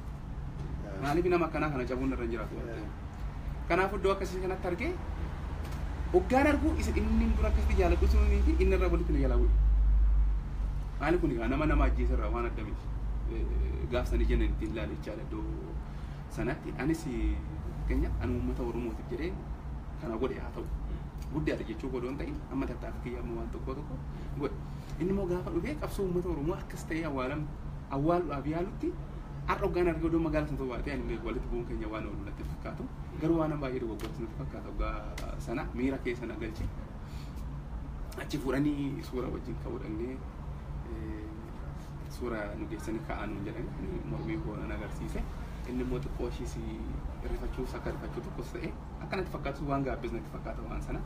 Maaliif nama akkanaa kana cabuun irra hin jiraatu waan ta'eef. Kanaaf iddoo akkasii kanatti argee hoggaan arguu isa inni dura akkasitti jaaladhu sunii fi inni irra walitti na jalaa bu'e. Maali kun egaa nama nama ajjeese irraa waan adda miti. Gaaf sana ija itti hin ilaale jechaadha iddoo sanatti. Anis fakkeenyaaf ani uummata Oromootiif jedhee kana godhe haa ta'u. Guddaadha jechuu godhu hin ta'in amma tattaaffii kiyya amma waan tokko tokko godhe. Inni immoo gaafa dhufee qabsoo uummata Oromoo akkas ta'ee awwaalam awwaaluudhaaf yaalutti har'a oggaan argee odoo magaala sana baatee ani mee walitti bu'uun keenya waan oolu natti fakkaatu garuu waan baay'ee dogoggortu natti fakkaata oggaa sana miira keessa na galche achi fuudhanii suura wajjin ka'uu dhaqnee suura nu geessanii ka'aa nuun jedhan mormii koo nan agarsiise inni immoo xiqqoo ishiis rifachuus akka rifachuu tokkos ta'e akka natti fakkaatu waan gaabbees natti fakkaata waan sana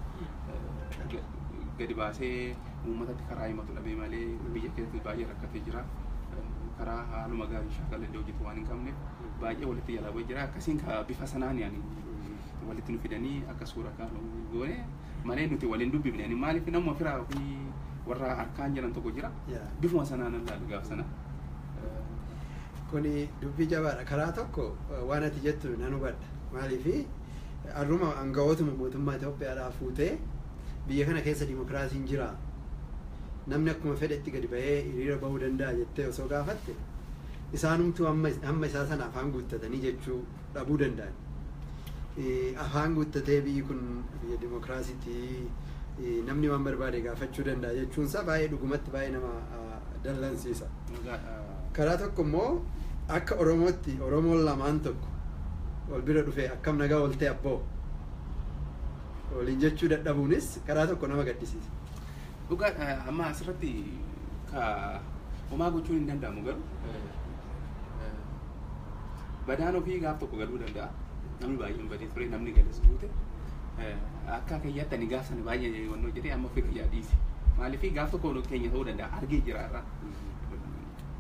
eh, gadi baasee uummatatti karaa himatu dhabee malee biyya keessatti baay'ee rakkatee jira. Eh, Karaa haaluma gaariin shaakala illee hojjetu waan hin qabne baay'ee walitti jalaa bu'ee jira. Akkasiin ka bifa sanaan yaani walitti nu fidanii akka suura kaanu goone malee nuti waliin dubbifne ani maaliif nama firaa fi warra harkaan jiran tokko jira. Yeah. Bifuma sanaan ilaalu gaaf sana. Kuni dubbii jabaadha. Karaa tokko waan ati jettu nan hubadha. Maaliif arruma aangawootuma mootummaa Itoophiyaadhaa fuutee biyya kana keessa dimokiraasiin jira. Namni akkuma fedhetti gadi ba'ee hiriira ba'uu danda'a jettee osoo gaafatte isaanumtuu hamma isaa sana afaan guuttatanii jechuu dhabuu danda'an. Afaan guttatee biyyi kun biyya dimokiraasiiti namni waan barbaade gaafachuu danda'a jechuun isaa baay'ee dhugumatti baay'ee nama dallansiisa. Karaa tokko immoo akka Oromootti Oromoon lamaan tokko wal bira dhufee akkam nagaa oltee abboo waliin jechuu dadhabuunis karaa tokko nama gaddisiisa. Dhugaadha amma asirratti ka homaa gochuun hin danda'amu garuu Badaan ofii gaaf tokko galuu danda'a. Namni baay'een badee ture, namni gales guute. Akka kiyyaatti ani gaaf sana baay'ee wannoo jedhee amma ofii kiyyaa dhiise. Maaliif gaaf tokko keenya ta'uu danda'a argee jira irraa.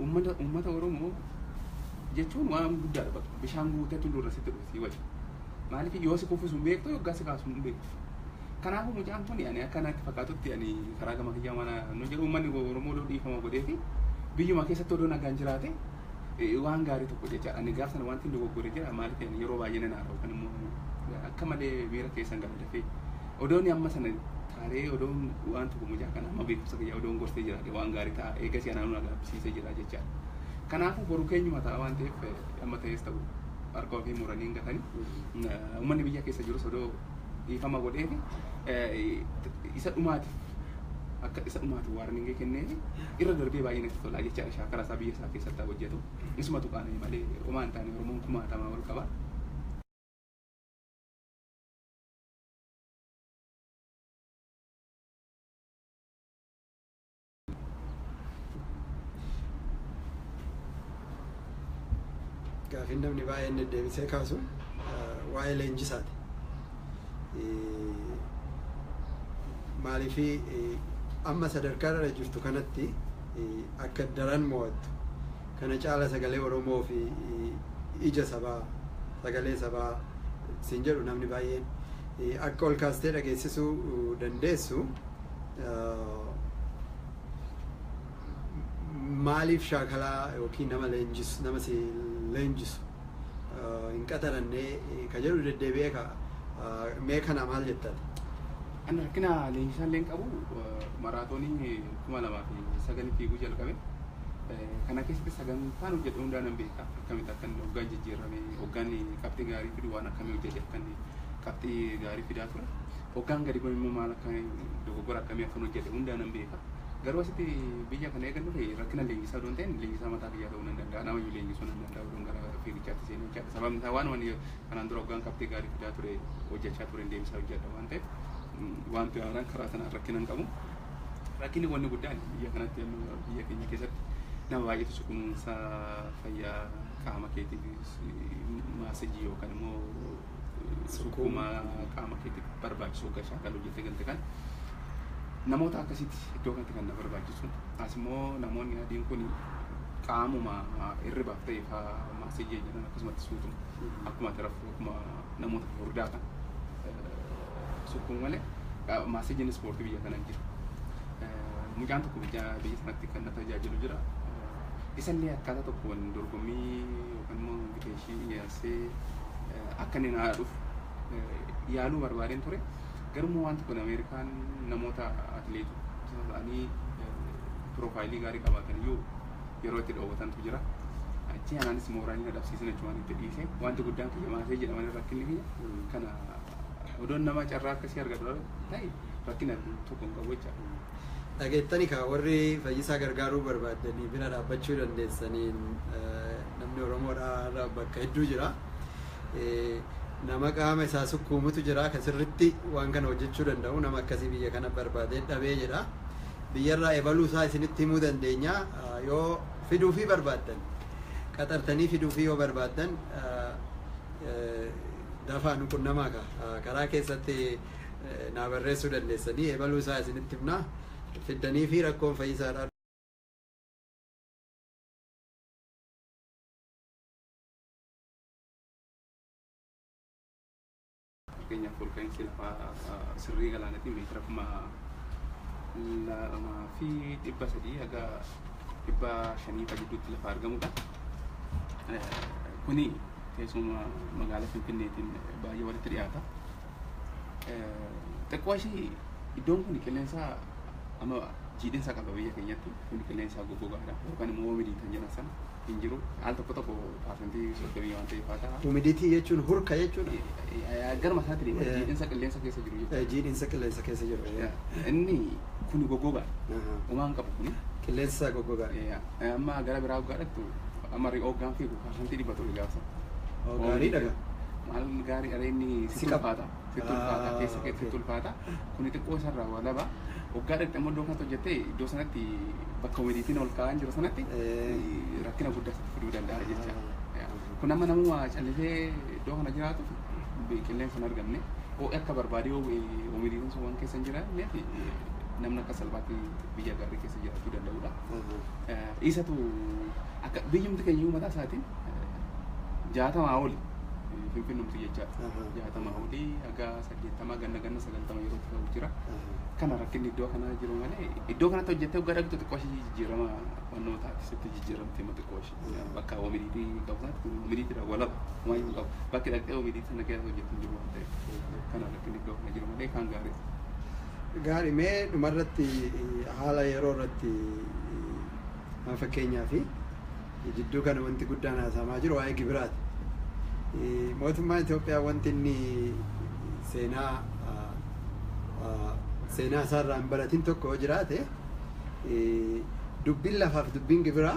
Uummata uummata Oromoo jechuun waan guddaadha bakka bishaan guutee tulluu irra sitti dhufu sii wajji. Maaliif yoo si kuffisu hin beektu yoggaa si kaasu hin beektu. Kanaafuu mucaan kun ani akka natti fakkaatutti ani karaa gama kiyyaa mana nu jedhu uummanni Oromoo odoo dhiifama godhee fi biyyuma keessatti odoo nagaan jiraate waan gaarii tokko jecha ani gaaf sana wanti dogoggore jira maaliif ani yeroo baay'ee nan haara'u kan immoo akka malee miira keessan gala dafee odoon amma sana taaree odoon waan tokko mucaa kana amma beekumsa kiyya odoon gorsee jiraadhe waan gaarii ta'a eegas anaan na gaabbisiisee jira jecha kanaafuu boru keenyuma ta'a waan ta'eef amma ta'es ta'u harka ofii muranii hin gatanii uummanni biyya keessa jirus odoo dhiifama godheefi isa dhumaatiif akka isa dhumaati waarningii kenneefi irra darbee baay'ee natti tolaa jechaadha shaakala isaa biyya isaa keessatti hojjetu isumatu qaana'e malee homaa hin taane oromoon kumaatamaa ol qaba. Gaafiin namni baay'een deddeebisee kaasu waa'ee leenjisaati. Maaliif amma sadarkaa irra jirtu kanatti akka daran mo'attu kana caala sagalee Oromoo fi ija sabaa sagalee sabaa siin jedhu namni baay'een akka ol kaastee dhageessisuu dandeessu. maaliif shaakalaa yookiin nama leenjisu nama si leenjisu hin qaxarannee ka jedhu deddeebi'ee ka mee kana maal jettan? An rakkina leenjisaa illee hin qabu maraatoonii kuma lamaa fi sagalii fiiguu jalqabe. Kana keessatti sagantaan hojjedhe hundaa nan beeka akkamitti akka inni hoggaan jijjiirame hoggaan qabxii gaarii fidu waan akkamii hojjedhe akka inni qabxii gaarii fidaa ture. Hoggaan gadi ba'u immoo maal akka dogoggora akkamii akkan hojjedhe hundaa nan beeka. Garuu asitti biyya kana eegan dhufe rakkina leenjisaa odoo hin ta'in leenjisaa mataa kiyyaa ta'uu nan danda'a. Namayyuu leenjisuu nan danda'a odoon gara fiigichaatti seenee hojjedha. Sababni isaa waan ani kanaan dura hoggaan qabxii gaarii fidaa ture hojjechaa turen deebisaa hojjedha waan ta'eef wanti haaraan karaa sanaan rakkina hin qabu. Rakkinni wanni guddaan biyya kanatti amma biyya keenya keessatti nama baay'eetu si kunuunsa fayyaa qaama keetiif maasajii yookaan immoo sukkuuma qaama keetiif barbaachisu akka shaakalu jettee galte kan namoota akkasitti iddoo kanatti kan na barbaachisu as immoo namoonni adiin kun qaamuma hirribaaf ta'e faa maasii jeenyaan akkasumatti suutuma akkuma ati rafuu akkuma namoota furdaa kan sukkuu malee maasii jeen ispoortii biyya kana hin jiru. Mucaan tokko biyya biyya sanatti kan na tajaajilu jira. Isallee akkaataa tokkoon dorgommii yookaan immoo invitation dhiyeessee akka inni naa dhufu yaaluu barbaadeen ture. Garuu wanti kun Ameerikaan namoota atileetota ta'anii piroofaayilii gaarii qabaatan iyyuu yeroo itti dhoowwatantu jira. Achii anaanis mooraalii na dhabsiisan jechuun waan itti dhiise. Wanti guddaan kiyya maasee jedhamanii rakkinni kiyya kana Odoon nama carraa akkasii argadhu ta'e rakkina tokko hin qabu jechaadha. Dhageettani kaa warri fayyisaa gargaaruu barbaaddanii bira dhaabbachuu dandeessaniin namni Oromoodhaa bakka hedduu jira. Nama qaama isaa sukkuumutu jira kan sirritti waan kana hojjechuu danda'u nama akkasii biyya kana barbaadee dhabee jedha. Biyyarraa ebaluu isaa isinitti himuu dandeenya yoo fiduufii barbaaddan qaxartanii fiduufii yoo barbaaddan Dafaa nu qunnamaa ka. Karaa keessatti naa barreessuu dandeessanii ebaluu isaa isinitti himnaa fiddanii fi rakkoon fayyisaadhaa fakkeenyaaf olka'iinsi lafaa sirrii galaanatiin meetira kuma lamaa fi dhibba sadii haga dhibba shanii gidduutti lafa argamudha. Kuni Teessuma magaalaa Finfinneetiin baay'ee walitti dhiyaata. Xiqqoo ishii iddoon kun qilleensa amma jiidhinsa qaba biyya keenyatti kun qilleensa goggogaadha yookaan immoo hoomidii kan jedhan sana hin jiru. Al tokko tokko paasentii soddomii waan ta'eef haa ta'a. Humiditii jechuun hurka jechuudha. Garuma isaatiin Eh. jiidhinsa qilleensa keessa jiru jechuudha. Eh, Jiidhinsa qilleensa keessa jiru. eh. Inni kun goggogaadha. Aha. Umaan qabu kuni. Qilleensa goggogaa. Eh, Amma gara biraa hoggaa dhaqxu amma ri'oo hoggaan fiigu parsantii dhibba ture gaafsa. Oo, Gaariidha gaa. Maal gaarii areenni Si sitti qaba. ulfaata. Sitti Ah, ulfaata keessa kee okay. sitti ulfaata. Kuni xiqqoo isarraa waa laba. Hoggaa dhaqxu immoo iddoo kanatti hojjettee iddoo sanatti bakka waliitiin ol kaa'an jiru sanatti Eh. rakkina guddaa sitti fiduu danda'a jecha. Ah. Kun amma namuma callisee iddoo kana jiraatu qilleensa hin arganne ho'i akka barbaadee omidiitiin sun waan keessa hin jiraanneef namni akka salphaatti biyya gaarii keessa jiraachuu danda'udha. Dhiisatu akka biyyumti keenya iyyuu mataa isaatiin jaatamaa oli finfinnumti jechaadha. Jaatamaa oli haga saddeettamaa ganna ganna sagantama yeroo ta'u jira. Kana rakkinni iddoo kanaa jiru malee iddoo kanatti hojjettee waggaa dhaqxu xiqqoo ishee jijjiirama barnootaati sitti jijjiiramti xiqqoo ishee. Bakka OMDtti qabusaatti kun OMDtti irraa walaba homaa hin qabu. Bakki dhaqxee OMDtti sana keessa hojjetu hin jiru waan ta'eef kana irratti inni iddoo kana jiru malee kaan gaarii. Gaarii mee dhumarratti haala yeroo irratti maa fakkeenyaa fi jidduu kana wanti guddaan haasa'amaa jiru waa'ee gibiraati. Mootummaa Itoophiyaa wanti inni seenaa seenaa isaarraa hin baratin tokko yoo jiraate dubbiin lafaa fi dubbiin gibiraa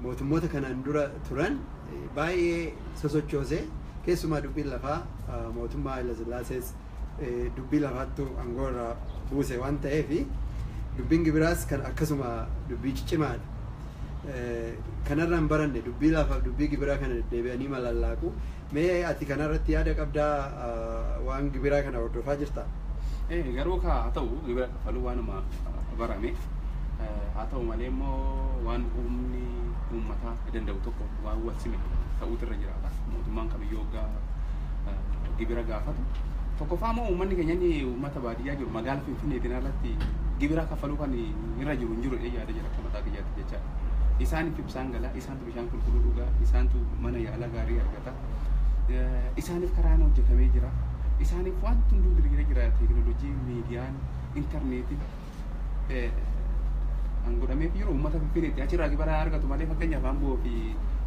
mootummoota kanaan dura turan baay'ee sosochoose keessumaa dubbiin lafaa mootummaa Hayilasillaasee dubbii lafaattu aangoo irraa buuse waan ta'eef dubbiin gibiraas kan akkasuma dubbii ciccimaadha. Kanarraan baranne dubbii lafaaf dubbii gibiraa kana deddeebi'anii malallaaqu. Mee ati kana irratti yaada qabdaa? Waan gibiraa kana hordofaa jirta? Ee, garuu kaa haa ta'u gibira kaffaluu waanuma barame haa ta'u malee immoo waan humni uummataa danda'u tokko waan wal sime ta'uutu irra jiraata mootummaan kamiyyuu hoggaa eh, gibira gaafatu tokkoffaa immoo uummanni keenya inni uummata baadiyyaa jiru magaala finfinneetiin alatti gibira kaffaluu kan irra jiru hin jiru jedhee yaada jira akka mataa kiyyaatti jechaadha isaaniif ibsaan galaa isaan bishaan qulqulluu dhugaa, isaantu mana yaalaa gaarii argata. Isaaniif karaan hojjetamee jira. Isaaniif wanti hunduu diriiree jira. Teekinooloojii, miidiyaan, intarneetiin kan godhameef jiru uummata Finfinneetti. Achirraa gibira argatu malee fakkeenyaaf Amboo fi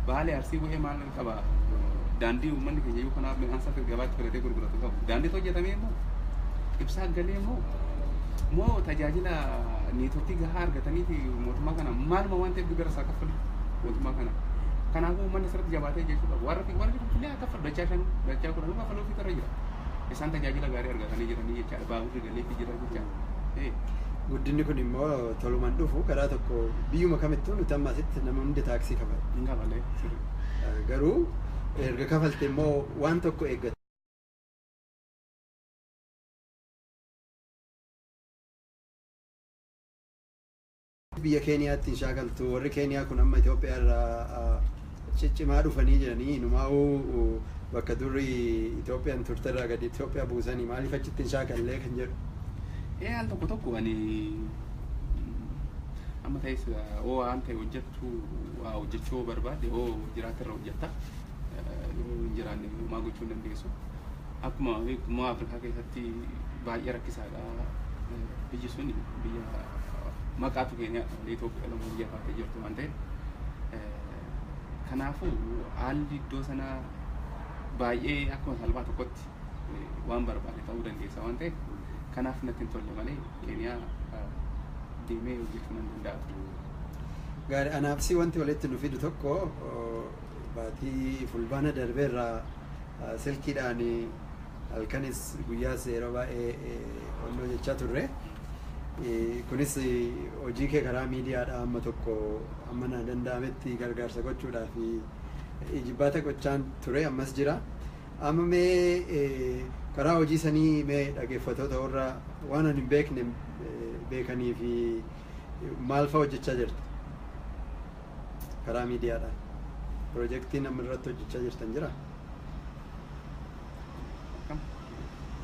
Baalee Arsii wa'ee maal qaba? Daandii uummanni keenya yoo kanaaf midhaan isaa gabaatti filatee gurguratu qabu. Daandiitu hojjetamee immoo ibsaa galee immoo moo tajaajila neetworkii gahaa argatanii fi mootummaa kana maaluma waan ta'eef gibira isaa kaffalu. mootummaa kana. Kanaafuu uummanni asirratti jabaatee jechuu qabu. Warri warri finfinnee akka dachaa shan dachaa kudhan akka faloofi irra jira. Isaan tajaajila gaarii argatanii jiranii jechaadha. Baaburri galeefi jira jechaadha. Guddinni kun immoo tolumaan dhufu karaa tokko biyyuma kamittuu nuti amma asitti nama hundi taaksii kafala. Hin gabalee sirri. Garuu erga kafalte immoo waan tokko eeggata. Biyya Keeniyaatti hin shaakaltu. Warri Keeniyaa kun amma Itoophiyaa irraa ciccimaa dhufanii jiranii inumaa'uu bakka durri Itoophiyaan turte irraa gadi Itoophiyaa buusanii maaliif achitti hin shaakallee kan jedhu. Ee al tokko tokko ani amma ta'es oo waan ta'e hojjettu waa hojjechuu yoo barbaadde oo jiraatte irra hojjetta yoo hin jiraanne homaa gochuu hin dandeessu. Akkuma beektu immoo Afrikaa keessatti baay'ee rakkisaadha. Biyyi sun biyya maqaatu Keeniyaadha malee Itoophiyaa lama biyya taatee jirtu waan ta'eef. Kanaafuu haalli iddoo sanaa baay'ee akkuma salphaa tokkotti waan barbaade ta'uu dandeessa waan ta'eef kanaaf natti hin tolle malee Keeniyaa deemee hojjechuu nan danda'a ture. Gaarii anaafsi wanti walitti nu fidu tokko baatii fulbaana darbeerraa silkiidhaan halkanis guyyaas yeroo baay'ee qonnoo jechaa turre. Kunis hojii kee karaa miidiyaadhaa amma tokko amma na danda'ametti gargaarsa gochuudhaa fi ijibbaata gochaan ture ammas jira. Amma mee karaa hojii sanii mee dhaggeeffatoota warra waan ani hin beekne beekanii fi maal fa'a hojjechaa jirta? karaa miidiyaadhaan pirojektiin amma irratti hojjechaa jirtan jira? Akkam?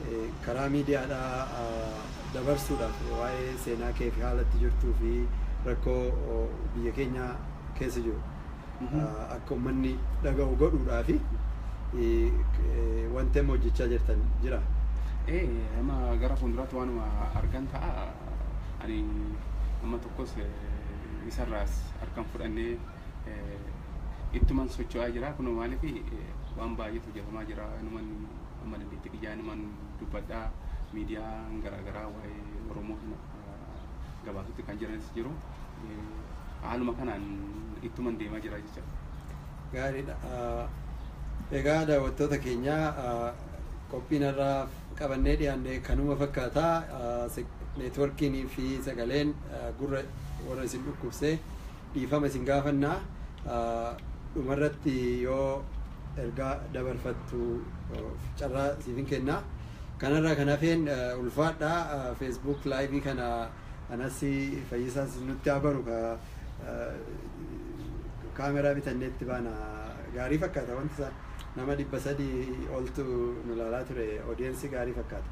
Eh, karaa miidiyaadhaa ah, dabarsuudhaaf waa'ee seenaa kee fi haala itti jirtuu fi rakkoo oh, biyya keenya keessa jiru Mhm. ah, akka uummanni dhaga'u godhuudhaa fi eh, k- eh, wanti amma hojjechaa jirtan jira. Ee, amma gara fuulduraatti waanuma argan ta'a. Ani amma Akkos isarraas harkan fudhannee ittuman socho'aa jira. Kunoo maaliif waan baay'eetu hojjetamaa jira. Inuman amma dandeettii kiyyaa inuman dubbadhaa miidiyaan garaagaraa waa'ee Oromoo kana gabaasutti kan jiranis jiru. Haaluma kanaan ittuman deemaa jira jecha. Gaariidha. Egaa daawwattoota keenyaa qophiin har'aaf qabannee dhiyaanne kanuma fakkaata. Networkiin fi sagaleen gurra warra isin dhukkubse dhiifama isin gaafanna. Dhumarratti yoo ergaa dabarfattu carraa siifin kenna. Kanarraa kan hafeen ulfaadha. Facebook live kana Anas fayyisaas nutti haa baru ka kaameraa bitannee itti baana gaarii fakkaata wanti isaa nama dhibba sadii oltu nu laalaa ture odiyensi gaarii fakkaata.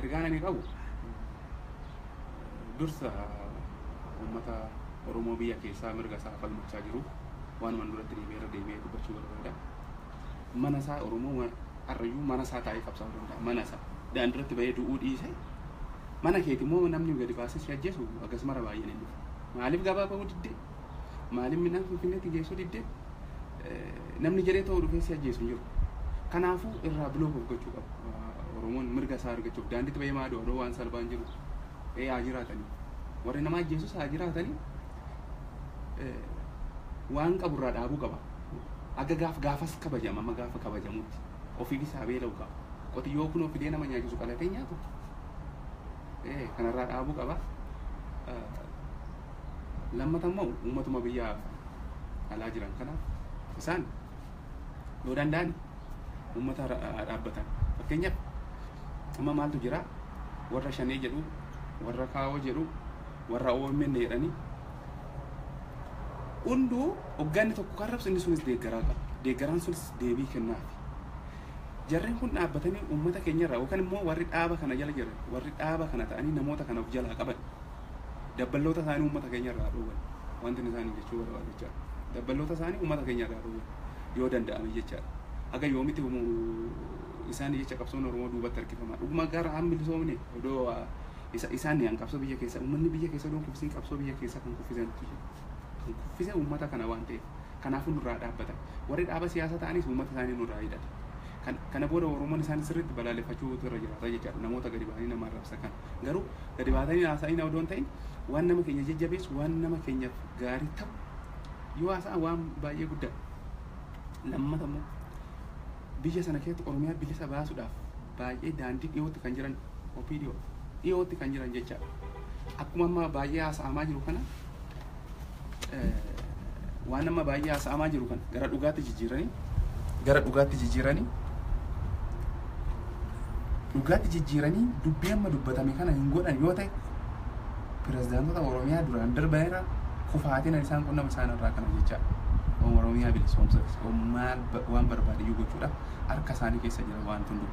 Ergaan ani qabu dursa uummata Oromoo biyya keessaa mirga isaa falmachaa jiruuf waanuman duratti deebi'ee irra deebi'ee dubbachuu barbaada. mana isaa Oromoo ma- arrayyuu mana isaa taa'ee qabsaa'uu danda'a mana isaa daandirratti bahee du'uu dhiise mana keeti immoo namni gadi baasee si ajjeesu akkasumara baay'een hin dhufu maaliif gabaa ba'uu didde maaliif midhaan finfinneetti geessuu didde Eh, namni jedhee ta'uu dhufee si ajjeesu hin jiru kanaafuu irraa biloof of gochuu qaba Oromoon mirga isaa argachuuf daandiitti bahee maa du'a waan salphaan jiru ee haa jiraatanii warri nama ajjeesus haa jiraatanii eh, waan qabu irraa dhaabuu qaba aga gaaf gaafas kabajama amma gaafa kabajamutti ofiifis haa beela'u qaba qotiyyoo kunoo fidee nama nyaachisu qalatee nyaatu ee kanarraa dhaabuu qaba Eh, lammata immoo uummatuma biyya alaa jiran kanaaf isaan yoo danda'an uummata dhaabbatan fakkeenyaaf amma maaltu jira warra shanee jedhu warra kaawoo jedhu warra OMN jedhanii hunduu hogganni tokko kan rabsu inni sunis deeggaraa qaba deeggaraan sunis deebii kennaafi jarreen kun dhaabbatanii uummata keenya irraa yookaan immoo warri dhaaba kana jala jiran warri dhaaba kana ta'anii namoota kana of jalaa qaban dabballoota isaanii uummata keenya irraa dhowwan wanti inni isaanii jechuu barbaadu jechaadha. Dabballoota isaanii uummata keenya irraa dhowwan yoo danda'ame jechaadha. Haga yoomiti isaanii jecha qabsoon Oromoo duubatti harkifama. Dhuguma gara an bilisoomne odoo isa isaan yaan qabsoo biyya keessa uummanni biyya keessa odoo kuffisin qabsoo biyya keessa kan kuffisan kan kuffise uummata kana waan ta'eef kanaafuu nurraa dhaabbatan. Warri dhaaba siyaasa ta'anis uummata isaanii nurraa hidhata. Kan kana booda Oromoon isaan sirriitti balaaleffachuutu irra jiraata jechaadha. Namoota gadi bahanii nama arrabsa kana. Garuu gadi baatanii haasa'ina odoo hin ta'in waan nama keenya jajjabeessu waan nama keenyaaf gaarii ta'u yoo haasa'an waan baay'ee guddaa. Lammata immoo biyya sana keessatti Oromiyaa bilisa baasuudhaaf baay'ee daandii dhiyootti kan jiran OPDO dhiyootti kan jiran jechaadha. Akkuma amma baay'ee haasa'amaa jiru kana waan amma baay'ee haasa'amaa jiru kana gara dhugaatti jijjiiranii gara dhugaatti jijjiiranii dhugaatti jijjiiranii dubbii amma dubbatame kana hin godhan yoo ta'e pirezidaantota Oromiyaa duraan darbanirra kufaatiin isaan qunnama isaan irraa kana jecha Oromiyaa bilisoomsatti maal waan barbaadiyyuu gochuudha harka isaanii keessa jira waan tundu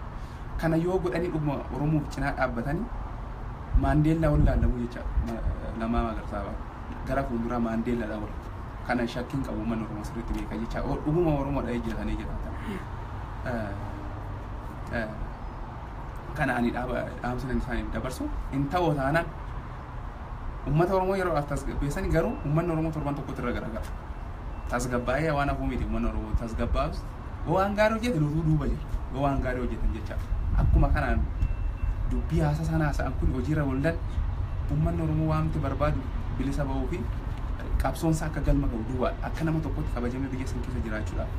kana yoo godhanii dhuguma Oromoof cinaa dhaabbatanii Maandeellaa ol laallamuu jecha Lammaa Magarsaa ba'a. Gara fuulduraa Maandeellaadha ol. Kana shakkii hin qabu uummanni Oromoo sirriitti beeka jecha o- dhuguma Oromoo dha'ee jira tanee jiraata. Eh, eh, Kana ani dhaaba dhaamsa kan isaaniif dabarsu hin ta'u taanaan uummata Oromoo yeroo as tasgabbeessani garuu uummanni Oromoo torban tokkotti irra garagala. Tasgabbaa'ee waan hafuu miti ummanni Oromoo tasgabbaa'us yoo waan gaarii hojjetan utuu duuba jiru yoo waan gaarii hojjetan jecha akkuma kanaan dubbii haasa isaan haasa'an kun hojiirra waldan ummanni Oromoo waamti barbaadu bilisa ba'uu fi qabsoonsa akka galma ga'u duwwaa akka nama tokkotti kabajamee biyya san keessa jiraachuudhaaf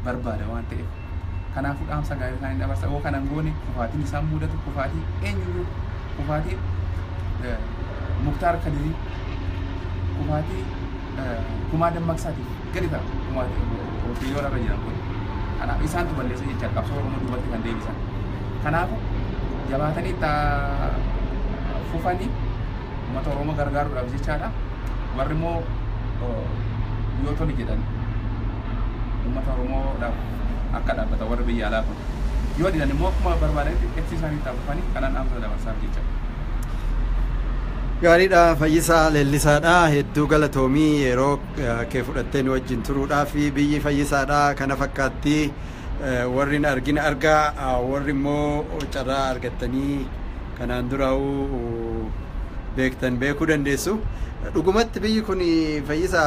barbaada waan ta'eef Kanaafuu dhaamsa gaarii isaanii dabarsa. Yoo kana hin goone kufaatiin isaan mudatu kufaatii eenyuyyuu kufaatii eh, Muktaar Kadirii kufaatii eh, kumaa dammaqsaatiif gadi ta'a kumaatiin waaqayyoon irra jiran kun. Kanaaf isaantu balleessa jecha qabsoo Oromoo duubatti kan deebisan. Kanaafuu jabaatanii itti haa fufanii Uummata Oromoo gargaaruudhaaf jechaadha. Warri immoo yoo tole jedhan uummata Oromoodhaaf akka dhaabbatan warri biyya alaa kun. Yoo didan immoo akkuma barbaadanitti ibsi isaanii itti fufanii kanaan dhaamsa dabarsaaf jecha. Gaariidha Fayyisaa Leellisaadha hedduu galatoomii yeroo kee fudhattee nu wajjin turuudhaaf biyyi Fayyisaadha kana fakkaatti. warri hin argin argaa warri immoo carraa argattanii kanaan duraa'uu beektan beekuu dandeessu. Dhugumatti biyyi kun fayyisa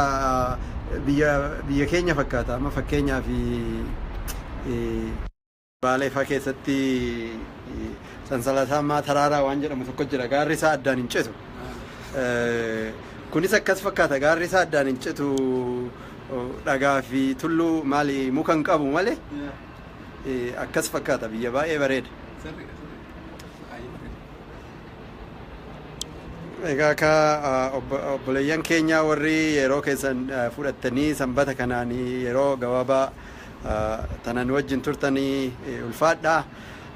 biyya biyya keenya fakkaata. Amma fakkeenyaaf Baalee fa'aa keessatti sansalataa ammaa taraaraa waan jedhamu tokko jira. Gaarri isaa addaan hin citu. Kunis akkas fakkaata gaarri isaa addaan hin citu. Dhagaa fi tulluu maali muka hin qabu male akkas fakkaata biyya baay'ee bareeda. Egaa ka obboleeyyan keenya warri yeroo keessan fudhattanii sanbata kanaan yeroo gabaabaa tanan wajjin turtanii ulfaadha.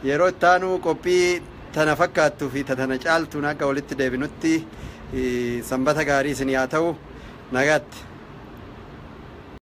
Yeroo itti aanu qophii tana fakkaattu fi ta tana caaltuun hagga walitti deebinutti Sanbata gaarii isinii haa ta'u. Nagaatti.